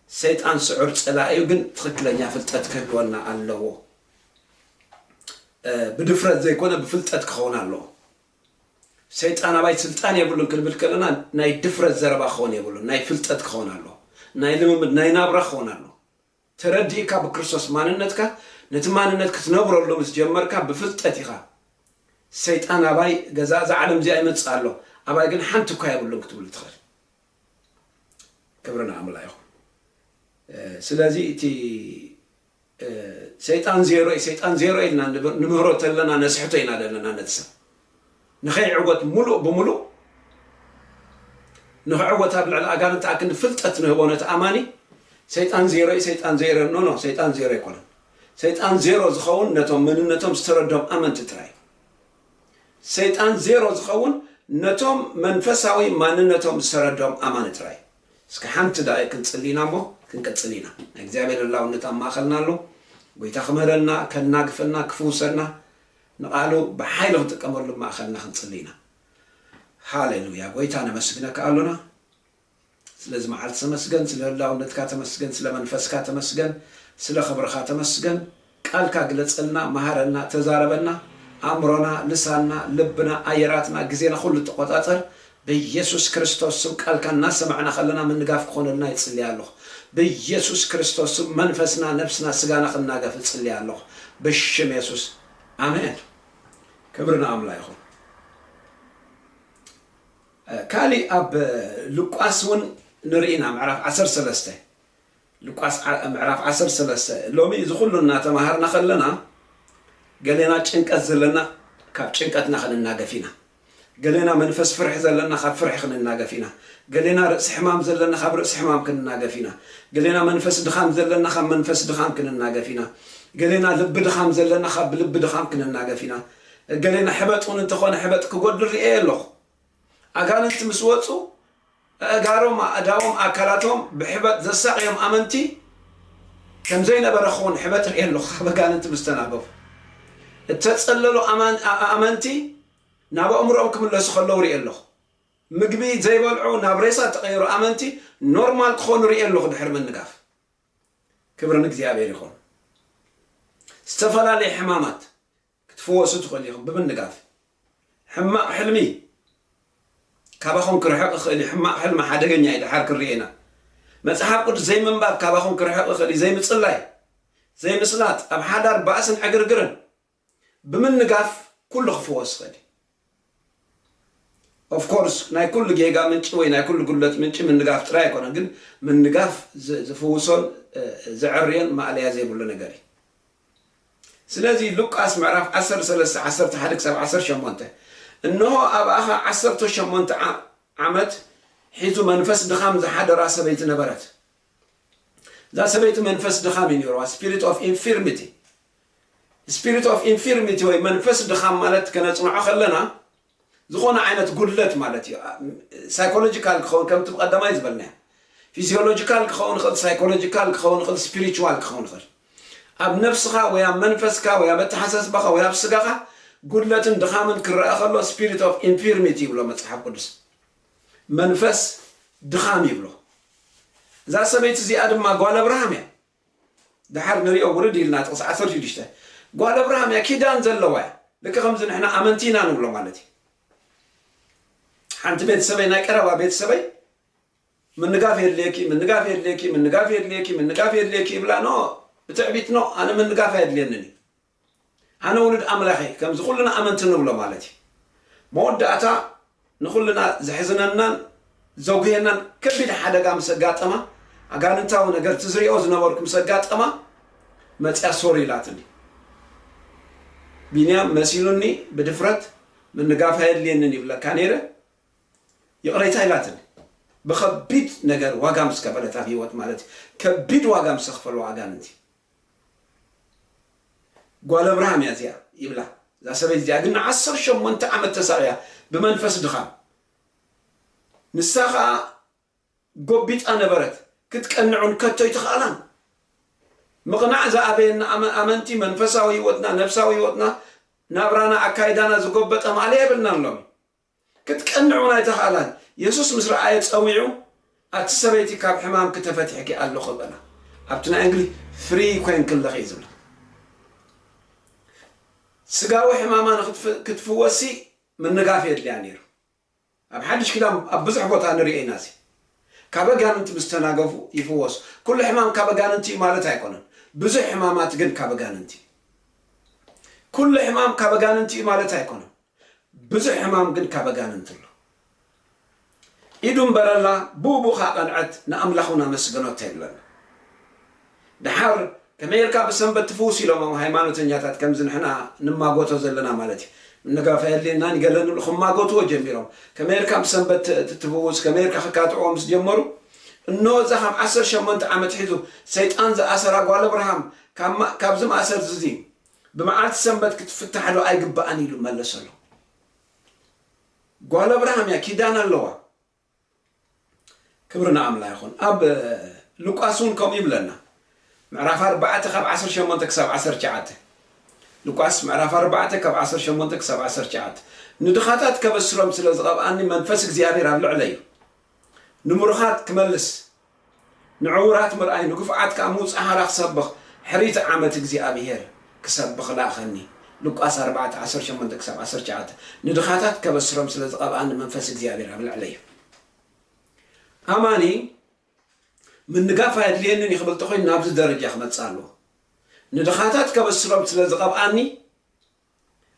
Speaker 1: ሰይጣን ስዑር ፀላኢ እዩ ግን ትኽክለኛ ፍልጠት ክህልወና ኣለዎ ብድፍረት ዘይኮነ ብፍልጠት ክኸውን ኣለዎ ሰይጣን ኣባይ ስልጣን የብሉን ክንብል ከለና ናይ ድፍረት ዘረባ ክኸውን የብሉን ናይ ፍልጠት ክኸውን ኣለዎ ናይ ልምምድ ናይ ናብራ ክኸውን ኣለዎ ተረዲእካ ብክርስቶስ ማንነትካ ነቲ ማንነት ክትነብረሉ ምስ ጀመርካ ብፍልጠት ኢኻ ሰይጣን ኣባይ ገዛ እዛ ዓለም እዚኣ ይመጽእ ኣሎ ኣባይ ግን ሓንቲ እኳ የብሉን ክትብሉ ትኽእል ክብሪ ንኣምላኽ ይኹን ስለዚ እቲ ሰይጣን ዜሮ እዩ ሰይጣን ዜሮ ኢልና ንምህሮ ተለና ነስሕቶ ኢና ዘለና ነቲ ሰብ ንኸይዕወት ምሉእ ብምሉእ ንኽዕወት ኣብ ልዕሊ ኣጋንንቲ ኣክንዲ ፍልጠት ንህቦ ነቲ ኣማኒ ሰይጣን ዜሮ እዩ ሰይጣን ዜሮ ኖ ኖ ሰይጣን ዜሮ ኣይኮነን ሰይጣን ዜሮ ዝኸውን ነቶም መንነቶም ዝተረዶም ኣመንቲ ጥራይ እዩ ሰይጣን ዜሮ ዝኸውን ነቶም መንፈሳዊ ማንነቶም ዝተረዶም ኣማኒ ጥራይ እዩ እስከ ሓንቲ ደቂ ክንጽሊና እሞ ክንቅጽል ኢና ናይ እግዚኣብሔር ህላውነት ኣብ ማእኸልና ኣሎ ጎይታ ክምህረና ከናግፈና ክፍውሰና ንቓሉ ብሓይሊ ክንጥቀመሉ ብ ማእኸልና ክንጽሊ ኢና። ሃሌሉያ ጎይታ ነመስግነካ ኣሎና ስለዚ መዓልቲ ተመስገን ስለ ህላውነትካ ተመስገን ስለ መንፈስካ ተመስገን ስለ ክብርኻ ተመስገን ቃልካ ግለጸልና መሃረና ተዛረበና ኣእምሮና ልሳንና ልብና ኣየራትና ግዜና ኩሉ ተቆጻጸር በየሱስ ክርስቶስ ስም ቃልካ እናሰማዕና ከለና ምንጋፍ ክኾነልና ይጽሊ ኣሎኹ በየሱስ ክርስቶስ ስም መንፈስና ነብስና ስጋና ክናገፍ እጽሊ ኣሎኹ ብሽም የሱስ ኣሜን ክብሪ ንኣምላ ይኹን ካሊእ ኣብ ሉቃስ እውን ንርኢና ምዕራፍ ዓሰርተ ሰለስተ ሉቃስ ምዕራፍ ዓሰርተ ሰለስተ፣ ሎሚ እዚ ዅሉ እናተማሃርና ኸለና፣ ገሌና ጭንቀት ዘለና ኻብ ጭንቀትና ኽንናገፍ ኢና፣ ገሌና መንፈስ ፍርሒ ዘለና ኻብ ፍርሒ ኽንናገፍ ኢና፣ ገሌና ርእሲ ሕማም ዘለና ኻብ ርእሲ ሕማም ክንናገፍ ኢና፣ ገሌና መንፈስ ድኻም ዘለና ኻብ መንፈስ ድኻም ክንናገፍ ኢና፣ ገሌና ልቢ ድኻም ዘለና ኻብ ልቢ ድኻም ክንናገፍ ኢና፣ ገሌና ሕበጥ እውን እንተ ዀነ ሕበጥ ክጐድል ርእየዮ ኣለኹ። ኣጋንንቲ ምስ ወጹ፣ ኣእጋሮም፣ ኣእዳዎም፣ ኣካላቶም ብሕበጥ ዘሳቕዮም ኣመንቲ ከም ዘይነበረ ክኹን ሕበጥ ርእየ ኣሎኹ፣ ካብ ኣጋንንቲ ምስ ተናገፉ እተጸለሉ ኣመንቲ ናብ ኣእምሮኦም ክምለሱ ከለዉ ርእየ ኣሎኹ፣ ምግቢ ዘይበልዑ ናብ ሬሳ እተቐየሩ ኣመንቲ ኖርማል ክኾኑ ርእየ ኣሎኹ ድሕሪ ምንጋፍ። ክብሪ ንእግዚኣብሄር ይኹን። ዝተፈላለየ ሕማማት። ክትፍወሱ ትኽእሉ ኢኹም ብምንጋፍ። ሕማቕ ሕልሚ ካባኹም ክርሕቕ ይኽእል እዩ። ሕማቕ ሕልሚ ሓደገኛ እዩ፣ ደሓር ክንርእዮ ኢና። መጽሓፍ ቅዱስ ዘይምንባብ ካባኹም ክርሕቕ ይኽእል እዩ፣ ዘይምጽላይ፣ ዘይምስላጥ፣ ኣብ ሓዳር ባእስን ዕግርግርን። ብምንጋፍ ኩሉ ክፍወስ ይኽእል እዩ። Of course ናይ ኩሉ ጌጋ ምንጪ ወይ ናይ ኩሉ ጉድለት ምንጪ ምንጋፍ ጥራይ ኣይኮነን ግን ምንጋፍ ዝፍውሶን ዘዐርዮን ማእለያ ዘይብሉ ነገር እዩ ስለዚ ሉቃስ ምዕራፍ ዓሰርተ ሰለስተ ዓሰርተ ሓደ ክሳብ ዓሰርተ ሸሞንተ እንሆ ኣብኣኻ ዓሰርተ ሸሞንተ ዓመት ሒዙ መንፈስ ድኻም ዝሓደራ ሰበይቲ ነበረት እዛ ሰበይቲ መንፈስ ድኻም እዩ ነይርዋ ስፒሪት ኦፍ ኢንፊርሚቲ Spirit of Infirmity ወይ መንፈስ ድኻም ማለት ከነጽንዖ ከለና ዝኾነ ዓይነት ጉድለት ማለት እዩ። ሳይኮሎጂካል ክኸውን ከምቲ ብቀዳማይ ዝበልናዮ ፊዚዮሎጂካል ክኸውን ይኽእል፣ ሳይኮሎጂካል ክኸውን ይኽእል፣ ስፒሪቹዋል ክኸውን ይኽእል። ኣብ ነፍስኻ ወይ ኣብ መንፈስካ ወይ ኣብ ኣተሓሳስባኻ ወይ ኣብ ስጋኻ ጉድለትን ድኻምን ክረኣ ከሎ ስፒሪት ኦፍ ኢንፊርሚቲ ይብሎ መጽሓፍ ቅዱስ መንፈስ ድኻም ይብሎ። እዛ ሰበይቲ እዚኣ ድማ ጓል ኣብርሃም እያ። ደሓር ንሪኦ ውርድ ኢልና ጥቕሲ ዓሰርተ ሽዱሽተ ጓል ኣብርሃም እያ ኪዳን ዘለዋ እያ ልክዕ ከምዚ ንሕና ኣመንቲ ኢና ንብሎ ማለት እዩ ሓንቲ ቤተሰበይ ናይ ቀረባ ቤተሰበይ ምንጋፍ የድልየኪ ምንጋፍ የድልየኪ ምንጋፍ የድልየኪ ምንጋፍ የድልየኪ ይብላ ኖ ብትዕቢት ኖ ኣነ ምንጋፍ ኣየድልየንን እዩ ኣነ ውሉድ ኣምላኽ እየ፣ ከምዚ ኩልና ኣመንቲ ንብሎ ማለት እዩ። መወዳእታ ንኹልና ዘሕዝነናን ዘጉህየናን ከቢድ ሓደጋ ምስ ኣጋጠማ፣ ኣጋንንታዊ ነገር እቲ ዝሪኦ ዝነበርኩ ምስ ኣጋጠማ መፂኣ ሶሪ ኢላትኒ። ቢንያም መሲሉኒ ብድፍረት ምንጋፍ ኣየድልየንን ይብለካ ነይረ ይቕሬታ ኢላትኒ። ብኸቢድ ነገር ዋጋ ምስ ከፈለት ኣብ ህይወት ማለት እዩ። ከቢድ ዋጋ ምስ ዘኽፈሉ ኣጋንንቲ እዩ። ጓል ኣብርሃም እያ እዚኣ ይብላ እዛ ሰበይቲ እዚኣ ግን ንዓሰርተ ሸሞንተ ዓመት ተሳቕያ ብመንፈስ ድኻም ንሳ ኸኣ ጎቢጣ ነበረት ክትቀንዕውን ከቶ ኣይተኻእላን ምቕናዕ ዝኣበየና ኣመንቲ መንፈሳዊ ህይወትና ነብሳዊ ህይወትና ናብራና ኣካይዳና ዝጎበጠ ማእለያ የብልናን ሎሚ ክትቀንዕ እውን ኣይተኽኣላን። የሱስ ምስ ረኣየ ጸዊዑ፣ ኣቲ ሰበይቲ ካብ ሕማምኪ ተፈቲሕኪ ኣሎኺ በላ። ኣብቲ ናይ እንግሊዝ ፍሪ ኮይንኪ ኣለኺ እዩ ዝብላ። ስጋዊ ሕማማ ንክትፍ ክትፍወስሲ ምንጋፍ የድልያ ነይሩ። ኣብ ሓድሽ ኪዳን ኣብ ብዙሕ ቦታ ንርእዮ ኢና እዚ። ካብ ኣጋንንቲ ምስ ተናገፉ ይፍወሱ። ኩሉ ሕማም ካብ ኣጋንንቲ እዩ ማለት ኣይኮነን። ብዙሕ ሕማማት ግን ካብ ኣጋንንቲ እዩ። ኩሉ ሕማም ካብ ኣጋንንቲ እዩ ማለት ኣይኮነን። ብዙሕ ሕማም ግን ካብ ኣጋንንቲ ኣሎ። ኢዱ እንበረላ ብኡብኡ ከኣ ቀንዐት ንኣምላኽ ውን ኣመስገኖቶ ይብለና። ደሓር ከመይ ጌርካ ብሰንበት ትፍውስ ኢሎሞም ሃይማኖተኛታት ከምዚ ንሕና ንማጎቶ ዘለና ማለት እዩ ንጋፋኤል ናን ገለ ንብሉ ክማጎትዎ ጀሚሮም ከመይ ጌርካ ብሰንበት ትፍውስ ከመይ ጌርካ ክካትዕዎ ምስ ጀመሩ እነሆ እዛ ካብ ዓሰርተ ሸሞንተ ዓመት ሒዙ ሰይጣን ዝኣሰራ ጓል ኣብርሃም ካብዚ ማእሰርዚ እዚ ብመዓልቲ ሰንበት ክትፍታሕ ዶ ኣይግባእን ኢሉ መለሰሎም። ጓል ኣብርሃም እያ ኪዳን ኣለዋ። ክብሪ ንኣምላ ይኹን። ኣብ ሉቃስ እውን ከምኡ ይብለና ምዕራፍ ኣርባዕተ ካብ ዓሰርተ ሸሞንተ ክሳብ ዓሰርተ ትሽዓተ ሉቃስ ምዕራፍ ኣርባዕተ ካብ ዓሰርተ ሸሞንተ ክሳብ ዓሰርተ ትሽዓተ ንድኻታት ከበስሮም ስለ ዝቐብኣኒ መንፈስ እግዚኣብሔር ኣብ ልዕለይ እዩ ንምሩኻት ክመልስ ንዕዉራት ምርኣይ ንግፉዓት ከኣ ምውጽእ ሃራ ክሰብኽ ሕሪት ዓመት እግዚኣብሄር ክሰብኽ ለኣኸኒ ሉቃስ ኣርባዕተ ዓሰርተ ሸሞንተ ክሳብ ዓሰርተ ትሽዓተ ንድኻታት ከበስሮም ስለ ዝቐብኣኒ መንፈስ እግዚኣብሄር ኣብ ልዕለይ እዩ ኣማኒ ምንጋፍ ኣየድልየንን እዩ ክብል ተኾይኑ ናብዚ ደረጃ ክመጽእ ኣለዎ ንድኻታት ከበስሮም ስለ ዝቐብኣኒ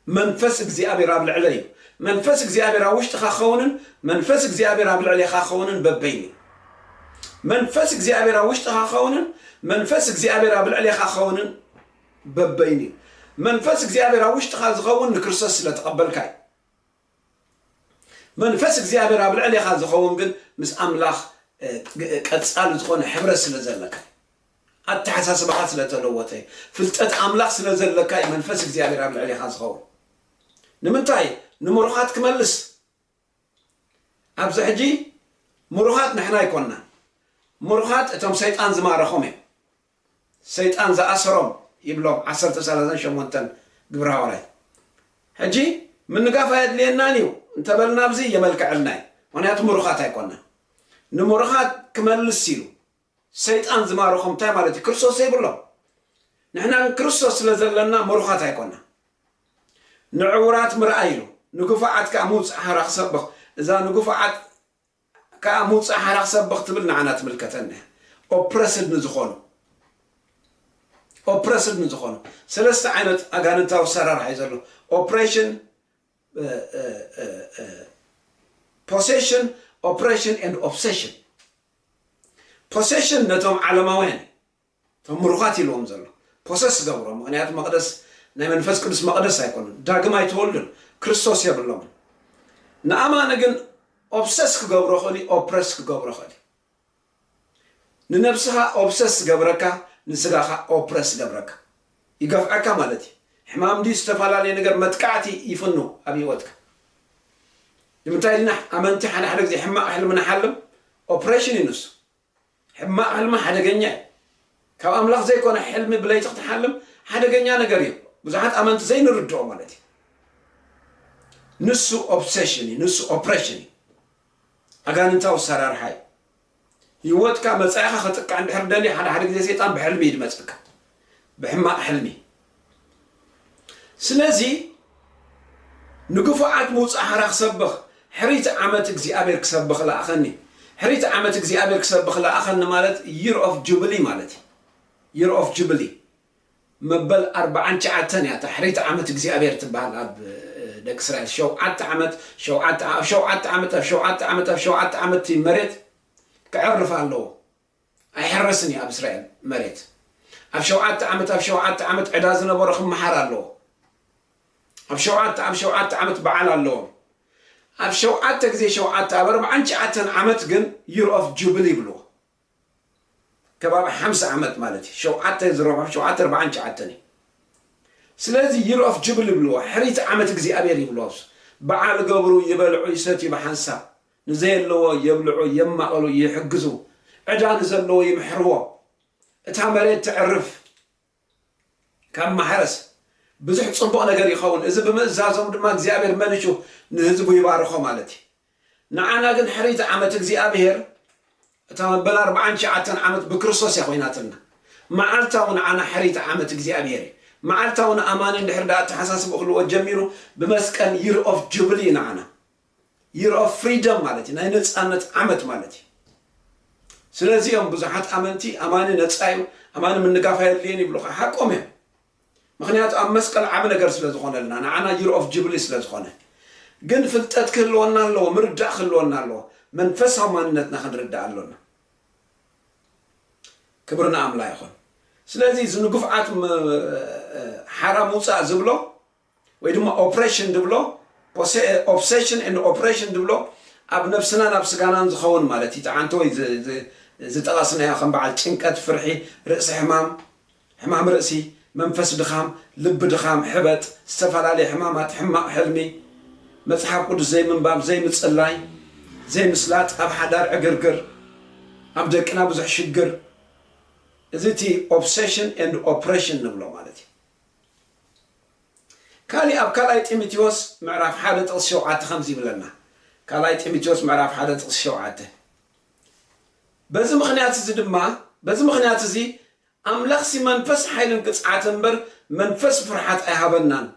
Speaker 1: መንፈስ እግዚኣብሔር ኣብ ልዕለይ እዩ። መንፈስ እግዚኣብሔር ኣብ ውሽጥኻ ክኸውንን መንፈስ እግዚኣብሔር ኣብ ልዕሌኻ ክኸውንን በበይኑ እዩ። መንፈስ እግዚኣብሔር ኣብ ውሽጥኻ ክኸውንን መንፈስ እግዚኣብሔር ኣብ ልዕሌኻ ክኸውንን በበይኑ እዩ። መንፈስ እግዚኣብሔር ኣብ ውሽጥኻ ዝኸውን ንክርስቶስ ስለ ተቐበልካ እዩ። መንፈስ እግዚኣብሔር ኣብ ልዕሌኻ ዝኸውን ግን ምስ ኣምላኽ ቀጻሊ ዝኾነ ሕብረት ስለ ዘለካ እዩ። ኣተሓሳስባኻ ስለ ተለወጠ እዩ። ፍልጠት ኣምላኽ ስለ ዘለካ እዩ መንፈስ እግዚኣብሔር ኣብ ልዕሌኻ ዝኸውን። ንምንታይ ንምሩኻት ክመልስ ኣብዚ ሕጂ ምሩኻት ንሕና ኣይኮንናን። ምሩኻት እቶም ሰይጣን ዝማረኾም እዮም። ሰይጣን ዝኣሰሮም ይብሎም ዓሰርተ ሰላሳን ሸሞንተን ግብረ ሃዋርያት። ሕጂ ምንጋፍ ኣየድልየናን እዩ እንተበልና ኣብዚ የመልክዐልና እዩ ምክንያቱ ምሩኻት ኣይኮናን። ንምሩኻት ክመልስ ኢሉ ሰይጣን ዝማርኾም እንታይ ማለት እዩ ክርስቶስ ዘይብሎም ንሕና ግን ክርስቶስ ስለ ዘለና ምሩኻት ኣይኮናን። ንዕውራት ምርኣይ ኢሉ ንግፉዓት ከኣ ምውጽእ ሓራ ክሰብኽ እዛ ንግፉዓት ከኣ ምውጻእ ሓራ ክሰብኽ ትብል ንዓና ትምልከተና እያ ኦፕረስድ ንዝኾኑ ኦፕረስድ ንዝኾኑ ሰለስተ ዓይነት ኣጋንንታዊ ኣሰራርሓ እዩ ዘሎ ኦፕሬሽን ፖሴሽን ኦፕሬሽን ኤንድ ኦብሴሽን ፖሴሽን ነቶም ዓለማውያን እቶም ምሩኻት ኢልዎም ዘሎ ፖሰስ ገብሮ ምኽንያቱ መቕደስ ናይ መንፈስ ቅዱስ መቕደስ ኣይኮኑን ዳግም ኣይተወልዱን ክርስቶስ የብሎምን ንኣማኒ ግን ኦብሰስ ክገብሮ ክእል እዩ ኦፕረስ ክገብሮ ክእል እዩ ንነብስኻ ኦብሰስ ዝገብረካ ንስጋኻ ኦፕረስ ገብረካ ይገፍዐካ ማለት እዩ ሕማም ድዩ ዝተፈላለየ ነገር መጥቃዕቲ ይፍኑ ኣብ ህይወትካ ንምንታይ ድና ኣመንቲ ሓደ ሓደ ግዜ ሕማቕ ሕልሚ ንሓልም ኦፕሬሽን እዩ ንሱ ሕማቅ ሕልሚ ሓደገኛ እዩ ካብ ኣምላኽ ዘይኮነ ሕልሚ ብለይቲ ክትሓልም ሓደገኛ ነገር እዩ ብዙሓት ኣመንቲ ዘይንርድኦ ማለት እዩ ንሱ ኦብሰሽን እዩ ንሱ ኦፕሬሽን እዩ ኣጋንንታዊ ሰራርሓ እዩ ህይወትካ መጻኢኻ ከጥቅዕ እንድሕር ደልዩ ሓደ ሓደ ግዜ ሰይጣን ብሕልሚ እዩ ድመጸካ ብሕማቕ ሕልሚ ስለዚ ንግፉዓት ምውጻእ ሓራ ክሰብኽ ሕሪት ዓመት እግዚኣብሔር ክሰብኽ ለኣኸኒ ሕሪት ዓመት እግዚኣብሔር ክሰብኽ ለኣኸኒ ማለት ይር ኦፍ ጁብሊ ማለት እዩ ይር ኦፍ ጁብሊ መበል ኣርባዓን ትሽዓተን እያ እታ ሕሪት ዓመት እግዚኣብሔር ትበሃል ኣብ ደቂ እስራኤል ሸውዓተ ዓመት ሸውዓተ ኣብ ሸውዓተ ዓመት ኣብ ሸውዓተ ዓመት ኣብ ሸውዓተ ዓመት መሬት ክዕርፍ ኣለዎ ኣይሕረስን እዩ ኣብ እስራኤል መሬት ኣብ ሸውዓተ ዓመት ኣብ ሸውዓተ ዓመት ዕዳ ዝነበሮ ክመሓር ኣለዎ ኣብ ሸውዓተ ኣብ ሸውዓተ ዓመት በዓል ኣለዎም ኣብ ሸውዓተ ግዜ ሸውዓተ ኣብ ኣርብዓን ትሽዓተን ዓመት ግን ዩር ኦፍ ጁብሊ ይብልዎ ከባቢ ሓምሳ ዓመት ማለት እዩ ሸውዓተ ዝረብሖ ሸውዓተ ኣርብዓን ትሽዓተን እዩ ስለዚ ዩር ኦፍ ጁብሊ ይብልዎ ሕሪት ዓመት እግዚኣብሔር ይብልዎ በዓል ገብሩ ይበልዑ ይሰትዩ ብሓንሳብ ንዘየለዎ የብልዑ የማቕሉ ይሕግዙ ዕዳ ንዘለዎ ይምሕርዎ እታ መሬት ተዕርፍ ካብ ማሕረስ ብዙሕ ጽቡቕ ነገር ይኸውን እዚ ብምእዛዞም ድማ እግዚኣብሔር መሊሹ ንህዝቡ ይባርኾ ማለት እዩ ንዓና ግን ሕሪት ዓመት እግዚኣብሔር እታ መበል ኣርባዓን ትሽዓተን ዓመት ብክርስቶስ እያ ኮይናትና መዓልታ እውን ዓና ሕሪት ዓመት እግዚኣብሔር እዩ መዓልታ እውን ኣማኒ እንድሕር ዳ ኣተሓሳስብ ክህልዎ ጀሚሩ ብመስቀል ይር ኦፍ ጁብሊ ንዓና Year of Freedom ማለት እዩ፣ ናይ ነጻነት ዓመት ማለት እዩ። ስለዚ እዮም ብዙሓት ኣመንቲ ኣማኒ ነጻ እዩ፣ ኣማኒ ምንጋፍ ኣየድልዮን ይብሉኻ። ሓቆም እዮም። ምኽንያቱ ኣብ መስቀል ዓቢ ነገር ስለ ዝኾነልና፣ ንዓና Year of Jubilee ስለ ዝኾነ። ግን ፍልጠት ክህልወና ኣለዎ፣ ምርዳእ ክህልወና ኣለዎ፣ መንፈሳዊ ማንነትና ክንርዳእ ኣሎና። ክብሪ ንኣምላ ይኹን። ስለዚ እዚ ንግፍዓት ሓራ ምውጻእ ዝብሎ ወይ ድማ ኦፕሬሽን ድብሎ፣ ኦብሰሽን ኤንድ ኦፕሬሽን ድብሎ፣ ኣብ ነብስናን ኣብ ስጋናን ዝኸውን ማለት እዩ፣ ጠዓንቶ ወይ ዝጠቐስናዮ ከም በዓል ጭንቀት፣ ፍርሒ፣ ርእሲ ሕማም፣ ሕማም ርእሲ፣ መንፈስ ድኻም፣ ልቢ ድኻም፣ ሕበጥ፣ ዝተፈላለየ ሕማማት፣ ሕማቕ ሕልሚ፣ መጽሓፍ ቅዱስ ዘይምንባብ፣ ዘይምጽላይ፣ ዘይምስላጥ፣ ኣብ ሓዳር ዕግርግር፣ ኣብ ደቅና ብዙሕ ሽግር፣ እዚ እቲ ኦብሰሽን ኤንድ ኦፕሬሽን ንብሎ ማለት እዩ። ካሊእ ኣብ ካልኣይ ጢምቴዎስ ምዕራፍ ሓደ ጥቕሲ ሸውዓተ ከምዚ ይብለና ካልኣይ ጢምቴዎስ ምዕራፍ ሓደ ጥቕሲ ሸውዓተ በዚ ምኽንያት እዚ ድማ በዚ ምኽንያት እዚ ኣምላኽሲ መንፈስ ሓይልን ቅጽዓትን እምበር መንፈስ ፍርሓት ኣይሃበናን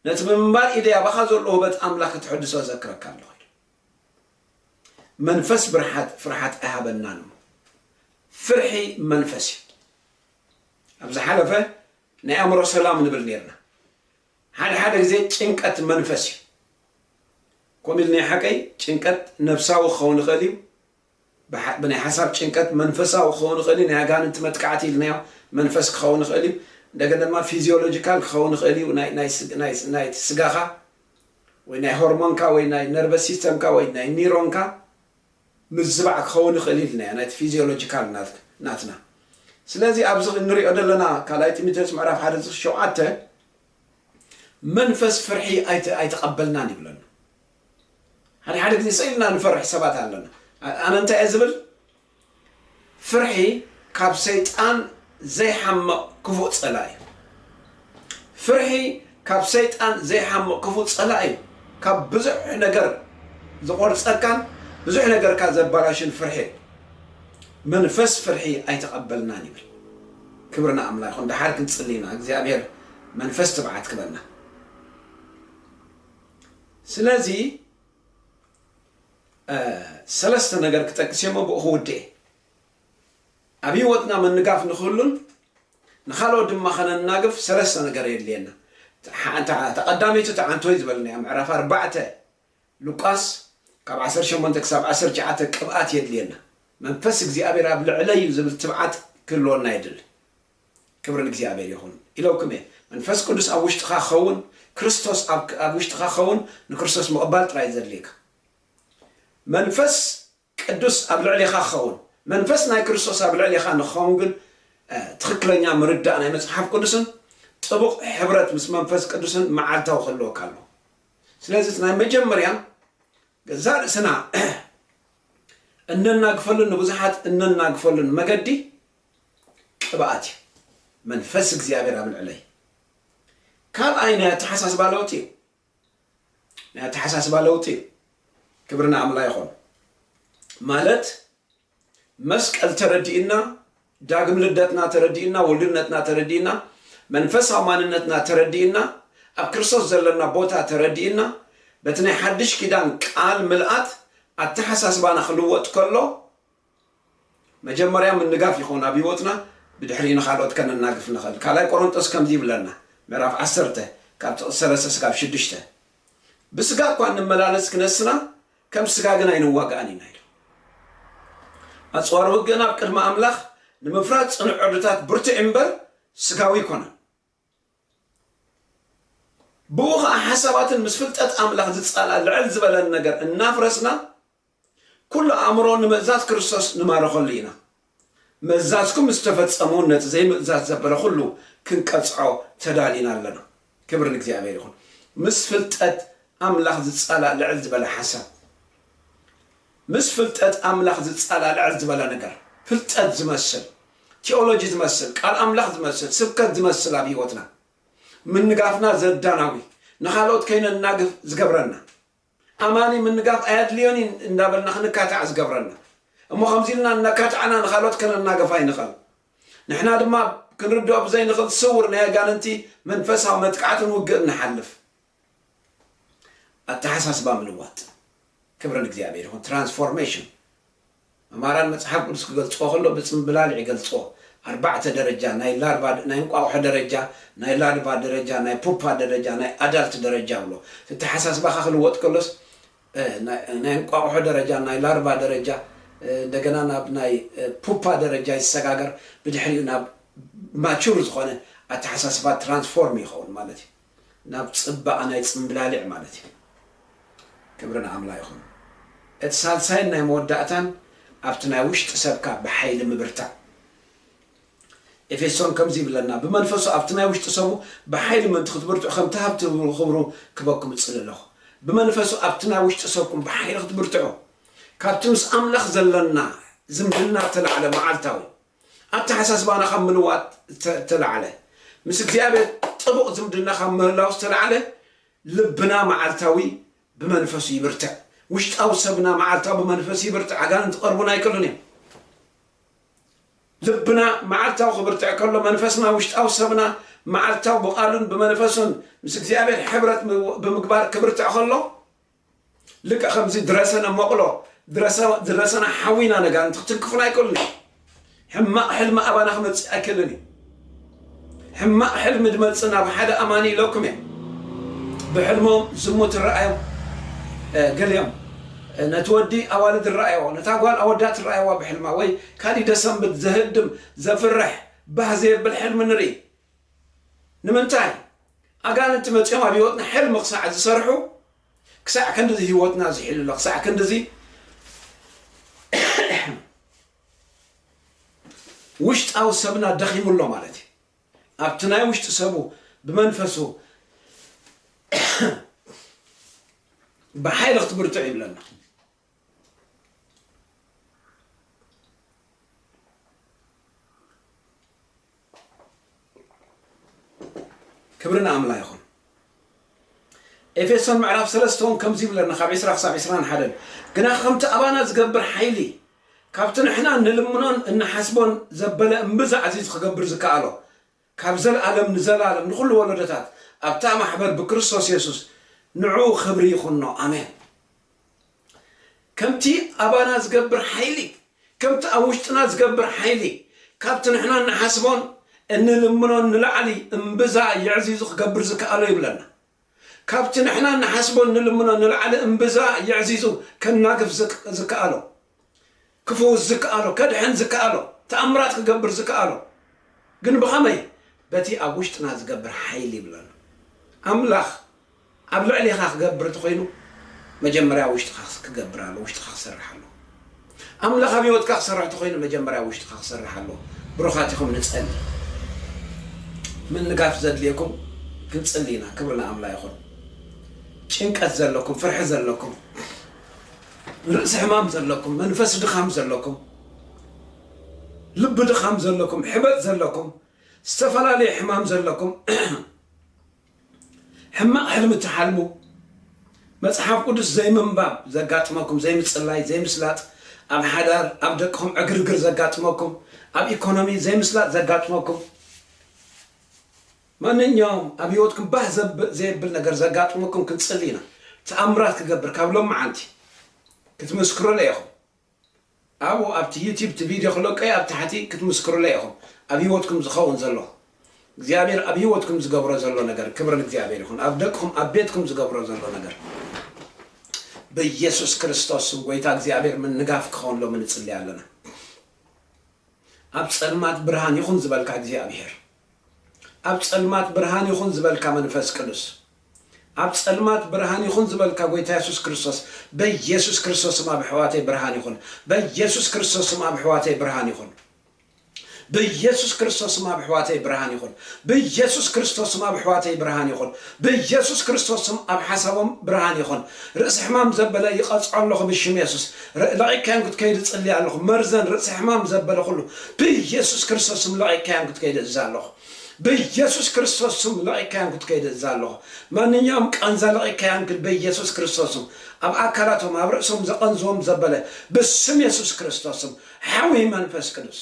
Speaker 1: ነቲ ብምንባር ኢደይ ኣባኻ ዘሎ ውህበት ኣምላኽ ከተሐድሶ እዘክረካ ኣለኹ ኢሉ። መንፈስ ብርሓት ፍርሓት ኣይሃበናን እሞ ፍርሒ መንፈስ እዩ። ኣብ ዝሓለፈ ናይ ኣእምሮ ሰላም ንብል ነርና። ሓደ ሓደ ግዜ ጭንቀት መንፈስ እዩ። ከምኡ ኢልኒ ሓቀይ ጭንቀት ነብሳዊ ክኸውን ይኽእል እዩ። ብናይ ሓሳብ ጭንቀት መንፈሳዊ ክኸውን ይኽእል እዩ፣ ናይ ኣጋንንቲ መጥቃዕቲ ኢልናዮ፣ መንፈስ ክኸውን ይኽእል እዩ፣ እንደገና ድማ ፊዚዮሎጂካል ክኸውን ይኽእል እዩ፣ ናይ ስጋኻ ወይ ናይ ሆርሞንካ ወይ ናይ ነርቨስ ሲስተምካ ወይ ናይ ኒሮንካ ምዝባዕ ክኸውን ይኽእል እዩ ኢልናዮ፣ ናይቲ ፊዚዮሎጂካል ናትና። ስለዚ ኣብዚ እንሪኦ ዘለና ካልኣይ ጢሞቴዎስ ምዕራፍ ሓደ ዝኽ ሸውዓተ መንፈስ ፍርሒ ኣይተቐበልናን ይብለና። ሓደ ሓደ ግዜ ስቅ ኢልና ንፈርሕ ሰባት ኣለና ኣነ እንታይ እየ ዝብል ፍርሒ ካብ ሰይጣን ዘይሓምቅ ክፉእ ጸላኢ እዩ ፍርሒ ካብ ሰይጣን ዘይሓምቅ ክፉእ ጸላኢ እዩ ካብ ብዙሕ ነገር ዝቆርጸካን ብዙሕ ነገርካ ዘባላሽን ፍርሒ እዩ መንፈስ ፍርሒ ኣይተቀበልናን ይብል ክብርና ኣምላ ይኹን ደሓር ክንጽሊ ኢና እግዚኣብሔር መንፈስ ትብዓት ክበና ስለዚ ሰለስተ ነገር ክጠቅስ እየ ብኡ ክውድእ ኣብ ህይወትና ምንጋፍ ንክህሉን ንካልኦት ድማ ከነናግፍ ሰለስተ ነገር የድልየና ተቐዳሚቱ ተዓንቶይ ዝበልናያ ምዕራፍ ኣርባዕተ ሉቃስ ካብ 18 ክሳብ 19 ቅብኣት የድልየና መንፈስ እግዚኣብሔር ኣብ ልዕለይ እዩ ዝብል ትብዓት ክህልወና የድሊ ክብሪ ንእግዚኣብሔር ይኹን ኢለውኩም እየ መንፈስ ቅዱስ ኣብ ውሽጥኻ ክኸውን ክርስቶስ ኣብ ውሽጥኻ ክኸውን ንክርስቶስ ምቕባል ጥራይ ዘድልየካ መንፈስ ቅዱስ ኣብ ልዕሌኻ ክኸውን መንፈስ ናይ ክርስቶስ ኣብ ልዕሌኻ ንክኸውን ግን ትኽክለኛ ምርዳእ ናይ መጽሓፍ ቅዱስን ጥቡቕ ሕብረት ምስ መንፈስ ቅዱስን መዓልታዊ ክህልወካ ኣሎ ስለዚ እቲ ናይ መጀመርያ ገዛእ ርእስና እነናግፈሉን ንብዙሓት እነናግፈሉን መገዲ ቅብኣት እዩ መንፈስ እግዚኣብሔር ኣብ ልዕለይ ካልኣይ ናይ ኣተሓሳስባ ለውጢ እዩ ናይ ኣተሓሳስባ ለውጢ እዩ ክብሪ ንኣምላ ይኾን ማለት መስቀል ተረዲእና ዳግም ልደትና ተረዲእና ውሉድነትና ተረዲእና መንፈሳዊ ማንነትና ተረዲእና ኣብ ክርስቶስ ዘለና ቦታ ተረዲእና በቲ ናይ ሓድሽ ኪዳን ቃል ምልኣት ኣተሓሳስባና ክልወጥ ከሎ መጀመርያ ምንጋፍ ይኸውን ኣብ ህይወትና ብድሕሪኡ ንኻልኦት ከነናግፍ ንኽእል። ካልኣይ ቆሮንጦስ ከምዚ ይብለና ምዕራፍ ዓሰርተ ካብ ጥቕሲ ሰለስተ ስጋብ ሽዱሽተ ብስጋ እኳ እንመላለስ ክነስና ከም ስጋ ግን ኣይንዋጋእን ኢና ኢሉ። ኣጽዋር ውግእና ኣብ ቅድሚ ኣምላኽ ንምፍራድ ጽኑዕ ዕርድታት ብርቱዕ እምበር ስጋዊ ኣይኮነን። ብኡ ኸኣ ሓሳባትን ምስ ፍልጠት ኣምላኽ ዝጻላእ ልዕል ዝበለን ነገር እናፍረስና ኩሉ ኣእምሮ ንምእዛዝ ክርስቶስ ንማርኸሉ ኢና። ምእዛዝኩም ምስ ተፈጸመ እውን ነቲ ዘይምእዛዝ ዘበለ ኩሉ ክንቀጽዖ ተዳሊና ኣለና። ክብሪ ንእግዚኣብሔር ይኹን። ምስ ፍልጠት ኣምላኽ ዝጻላእ ልዕል ዝበለ ሓሳብ ምስ ፍልጠት ኣምላኽ ዝጸላልዐ ዝበለ ነገር፣ ፍልጠት ዝመስል፣ ቲኦሎጂ ዝመስል፣ ቃል ኣምላኽ ዝመስል፣ ስብከት ዝመስል ኣብ ህይወትና ምንጋፍና ዘዳናጉይ፣ ንኻልኦት ከይነናግፍ ዝገብረና፣ ኣማኒ ምንጋፍ ኣየድልዮን እዩ እንዳበልና ክንካታዕ ዝገብረና፣ እሞ ከምዚ ኢልና እናካታዕና ንኻልኦት ከነናግፍ ኣይንኸል። ንሕና ድማ ኣብ ክንርድኦ ብዘይንኽል ስውር ናይ ኣጋንንቲ መንፈሳዊ መጥቃዕትን ውግእን ንሓልፍ። ኣተሓሳስባ ምልዋጥ ክብሪ ንእግዚኣብሔር ይኹን ትራንስፎርሜሽን መማራን መጽሓፍ ቅዱስ ክገልጽዎ ከሎ ብጽምብላሊዕ ይገልጽዎ ኣርባዕተ ደረጃ ናይ ላርቫ ናይ እንቋቑሖ ደረጃ ናይ ላርቫ ደረጃ ናይ ፑፓ ደረጃ ናይ ኣዳልት ደረጃ ብሎ ተተሓሳስባኻ ክልወጥ ከሎስ ናይ እንቋቑሖ ደረጃ ናይ ላርቫ ደረጃ እንደገና ናብ ናይ ፑፓ ደረጃ ይሰጋገር ብድሕሪኡ ናብ ማቹር ዝኾነ ኣተሓሳስባ ትራንስፎርም ይኸውን ማለት እዩ ናብ ጽባቀ ናይ ጽምብላሊዕ ማለት እዩ ክብሪ ንኣምላ ይኹን እቲ ሳልሳይን ናይ መወዳእታን ኣብቲ ናይ ውሽጢ ሰብካ ብሓይሊ ምብርታዕ ኤፌሶን ከምዚ ይብለና ብመንፈሱ ኣብቲ ናይ ውሽጢ ሰቡ ብሓይሊ ምእንቲ ክትብርትዑ ከምቲ ሃብቲ ክብሩ ክበኩም እጽሊ ኣለኹ ብመንፈሱ ኣብቲ ናይ ውሽጢ ሰብኩም ብሓይሊ ክትብርትዑ ካብቲ ምስ ኣምላኽ ዘለና ዝምድና ተላዕለ መዓልታዊ ኣተሓሳስባና ካብ ምልዋጥ ዝተላዕለ፣ ምስ እግዚኣብሔር ጥቡቕ ዝምድና ካብ ምህላው ዝተላዕለ፣ ልብና መዓልታዊ ብመንፈሱ ይብርትዕ። ውሽጣዊ ሰብና መዓልታዊ ብመንፈሱ ይብርትዕ፣ ኣጋንንቲ ክቐርቡና ኣይክእሉን እዮም። ልብና መዓልታዊ ክብርትዕ ከሎ፣ መንፈስና ውሽጣዊ ሰብና መዓልታዊ ብቓሉን ብመንፈሱን ምስ እግዚኣብሔር ሕብረት ብምግባር ክብርትዕ ከሎ፣ ልክዕ ከምዚ ድረሰነ መቕሎ ድረሰነ ሓዊና ነጋንንቲ ክትንክፉና ኣይክእሉን እዩ። ሕማቕ ሕልሚ ኣባና ክመጽእ ኣይክእልን እዩ። ሕማቕ ሕልሚ ድመጽእ ናብ ሓደ ኣማኒ ኢለኩም እየ ብሕልሞም ዝሙት እረኣዮም ገሊኦም ነቲ ወዲ ኣዋልድ እረኣየዎ ነታ ጓል ኣወዳት እረኣየዋ ብሕልማ ወይ ካሊእ ደሰንብድ ዘህድም ዘፍርሕ ባህ ዘየብል ሕልሚ ንርኢ ንምንታይ ኣጋንንቲ መጺኦም ኣብ ህይወትና ሕልሚ ክሳዕ ዝሰርሑ ክሳዕ ክንድዚ ህይወትና ዝሒሉ ኣሎ ክሳዕ ክንድዚ ውሽጣዊ ሰብና ደኺሙ ኣሎ ማለት እዩ ኣብቲ ናይ ውሽጢ ሰቡ ብመንፈሱ ብሓይሊ ክትብርትዕ ይብለና ክብሪ ንኣምላ ይኹን ኤፌሶን ምዕራፍ ሰለስተ እውን ከምዚ ይብለና ካብ ዕስራ ክሳብ ዕስራን ሓደን ግና ከምቲ ኣባና ዝገብር ሓይሊ ካብቲ ንሕና እንልምኖን እንሓስቦን ዘበለ እምብዛ ዓዚዙ ክገብር ዝከኣሎ ካብ ዘልኣለም ንዘልኣለም ንኹሉ ወሎዶታት ኣብታ ማሕበር ብክርስቶስ የሱስ ንዕኡ ክብሪ ይኹኖ ኣሜን። ከምቲ ኣባና ዝገብር ሓይሊ ከምቲ ኣብ ውሽጥና ዝገብር ሓይሊ ካብቲ ንሕና እንሓስቦን እንልምኖን ንላዕሊ እምብዛ የዕዚዙ ክገብር ዝከኣሎ ይብለና። ካብቲ ንሕና እንሓስቦን እንልምኖን ንላዕሊ እምብዛ የዕዚዙ ከናግፍ ዝከኣሎ፣ ክፍውስ ዝከኣሎ፣ ከድሕን ዝከኣሎ፣ ተኣምራት ክገብር ዝከኣሎ ግን ብኸመይ? በቲ ኣብ ውሽጥና ዝገብር ሓይሊ ይብል ኣሎ። ኣምላኽ ኣብ ልዕሌኻ ክገብር እንተኾይኑ መጀመርያ ኣብ ውሽጥኻ ክገብር ኣለዎ፣ ውሽጥኻ ክሰርሕ ኣለዎ። ኣምላኽ ኣብ ሂወትካ ክሰርሕ ተኾይኑ መጀመርያ ኣብ ውሽጥኻ ክሰርሕ ኣለዎ ብሩኻት ኢኹም ንጸሊ ምንጋፍ ዘድልየኩም ክንጽሊ ኢና ክብሪ ንኣምላ ይኹን ጭንቀት ዘለኩም ፍርሒ ዘለኩም ርእሲ ሕማም ዘለኩም መንፈስ ድኻም ዘለኩም ልቢ ድኻም ዘለኩም ሕበጥ ዘለኩም ዝተፈላለየ ሕማም ዘለኩም ሕማቕ ሕልሚ ትሓልሙ፣ መጽሓፍ ቅዱስ ዘይምንባብ ዘጋጥመኩም፣ ዘይምጽላይ፣ ዘይምስላጥ፣ ኣብ ሓዳር፣ ኣብ ደቅኹም ዕግርግር ዘጋጥመኩም፣ ኣብ ኢኮኖሚ ዘይምስላጥ ዘጋጥመኩም፣ ማንኛውም ኣብ ህይወትኩም ባህ ዘየብል ነገር ዘጋጥመኩም ክንጽሊ ኢና። ተኣምራት ክገብር ካብ ሎምዓንቲ ክትምስክሩለይ ኢኹም። ኣብኡ ኣብቲ ዩቲብ እቲ ቪድዮ ክለቀዩ ኣብ ታሕቲ ክትምስክሩለይ ኢኹም ኣብ ሂወትኩም ዝኸውን ዘሎ እግዚኣብሔር ኣብ ሂወትኩም ዝገብሮ ዘሎ ነገር ክብሪ ንእግዚኣብሔር ይኹን ኣብ ደቅኹም ኣብ ቤትኩም ዝገብሮ ዘሎ ነገር በየሱስ ክርስቶስ ስም ጎይታ እግዚኣብሔር ምንጋፍ ክኸውንሎምን ንጽልይ ኣለና ኣብ ጸልማት ብርሃን ይኹን ዝበልካ እግዚኣብሔር ኣብ ጸልማት ብርሃን ይኹን ዝበልካ መንፈስ ቅዱስ ኣብ ጸልማት ብርሃን ይኹን ዝበልካ ጎይታ የሱስ ክርስቶስ በየሱስ ክርስቶስ ስም ኣብ ኣሕዋተይ ብርሃን ይኹን በየሱስ ክርስቶስ ስም ኣብ ኣሕዋተይ ብርሃን ይኹን በየሱስ ክርስቶስ ስም ኣብ ኣሕዋተይ ብርሃን ይኹን በየሱስ ክርስቶስ ስም ኣብ ኣሕዋተይ ብርሃን ይኹን በየሱስ ክርስቶስ ስም ኣብ ሓሳቦም ብርሃን ይኹን ርእሲ ሕማም ዘበለ ይቐጽዖ ኣለኹ ብሽም የሱስ ርእ ለቂቅካዮም ክትከይድ እጽሊ ኣለኹ መርዘን ርእሲ ሕማም ዘበለ ኩሉ ብየሱስ ክርስቶስ ስም ለቂቅካዮም ክትከይድ እእዝ ኣለኹ ብየሱስ ክርስቶስ ስም ለቂቅካዮም ክትከይድ እእዝ ኣለኹ ማንኛውም ቃንዛ ለቂቅካዮም ክድ ብየሱስ ክርስቶስ ስም ኣብ ኣካላቶም ኣብ ርእሶም ዘቀንዝዎም ዘበለ ብስም የሱስ ክርስቶስ ስም ሓዊ መንፈስ ቅዱስ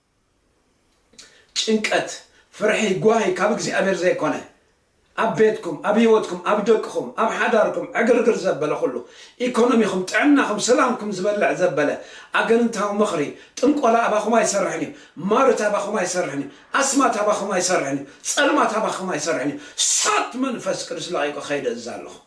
Speaker 1: ጭንቀት ፍርሒ ጓሂ ካብ እግዚኣብሔር ዘይኮነ ኣብ ቤትኩም ኣብ ህይወትኩም ኣብ ደቅኹም ኣብ ሓዳርኩም ዕግርግር ዘበለ ኩሉ ኢኮኖሚኹም ጥዕናኹም ሰላምኩም ዝበልዕ ዘበለ ኣገንንታዊ ምኽሪ ጥንቆላ ኣባኹም ኣይሰርሕን እዩ ማርት ኣባኹም ኣይሰርሕን እዩ ኣስማት ኣባኹም ኣይሰርሕን እዩ ጸልማት ኣባኹም ኣይሰርሕን እዩ ሳት መንፈስ ቅዱስ ለቒቁ ከይደ እዛ ኣለኹ።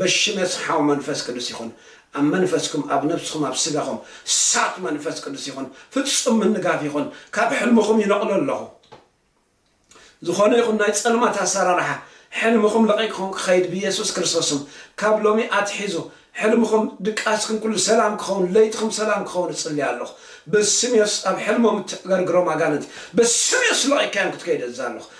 Speaker 1: በሽመት ሓው መንፈስ ቅዱስ ይኹን ኣብ መንፈስኩም ኣብ ነብስኹም ኣብ ስጋኹም ሳት መንፈስ ቅዱስ ይኹን ፍጹም ምንጋፍ ይኹን ካብ ሕልምኹም ይነቕሎ ኣለኹ ዝኾነ ይኹን ናይ ጸልማት ኣሰራርሓ ሕልምኹም ለቒቕኹም ክኸይድ ብየሱስ ክርስቶስም ካብ ሎሚ ኣትሒዙ ሕልምኹም ድቃስኩም ኩሉ ሰላም ክኸውን ለይትኹም ሰላም ክኸውን እጽልይ ኣለኹ በስም የሱስ ኣብ ሕልሞም እትዕገርግሮም ኣጋንንቲ በስም የሱስ ለቒካዮም ክትከይድ እዛ ኣለኹ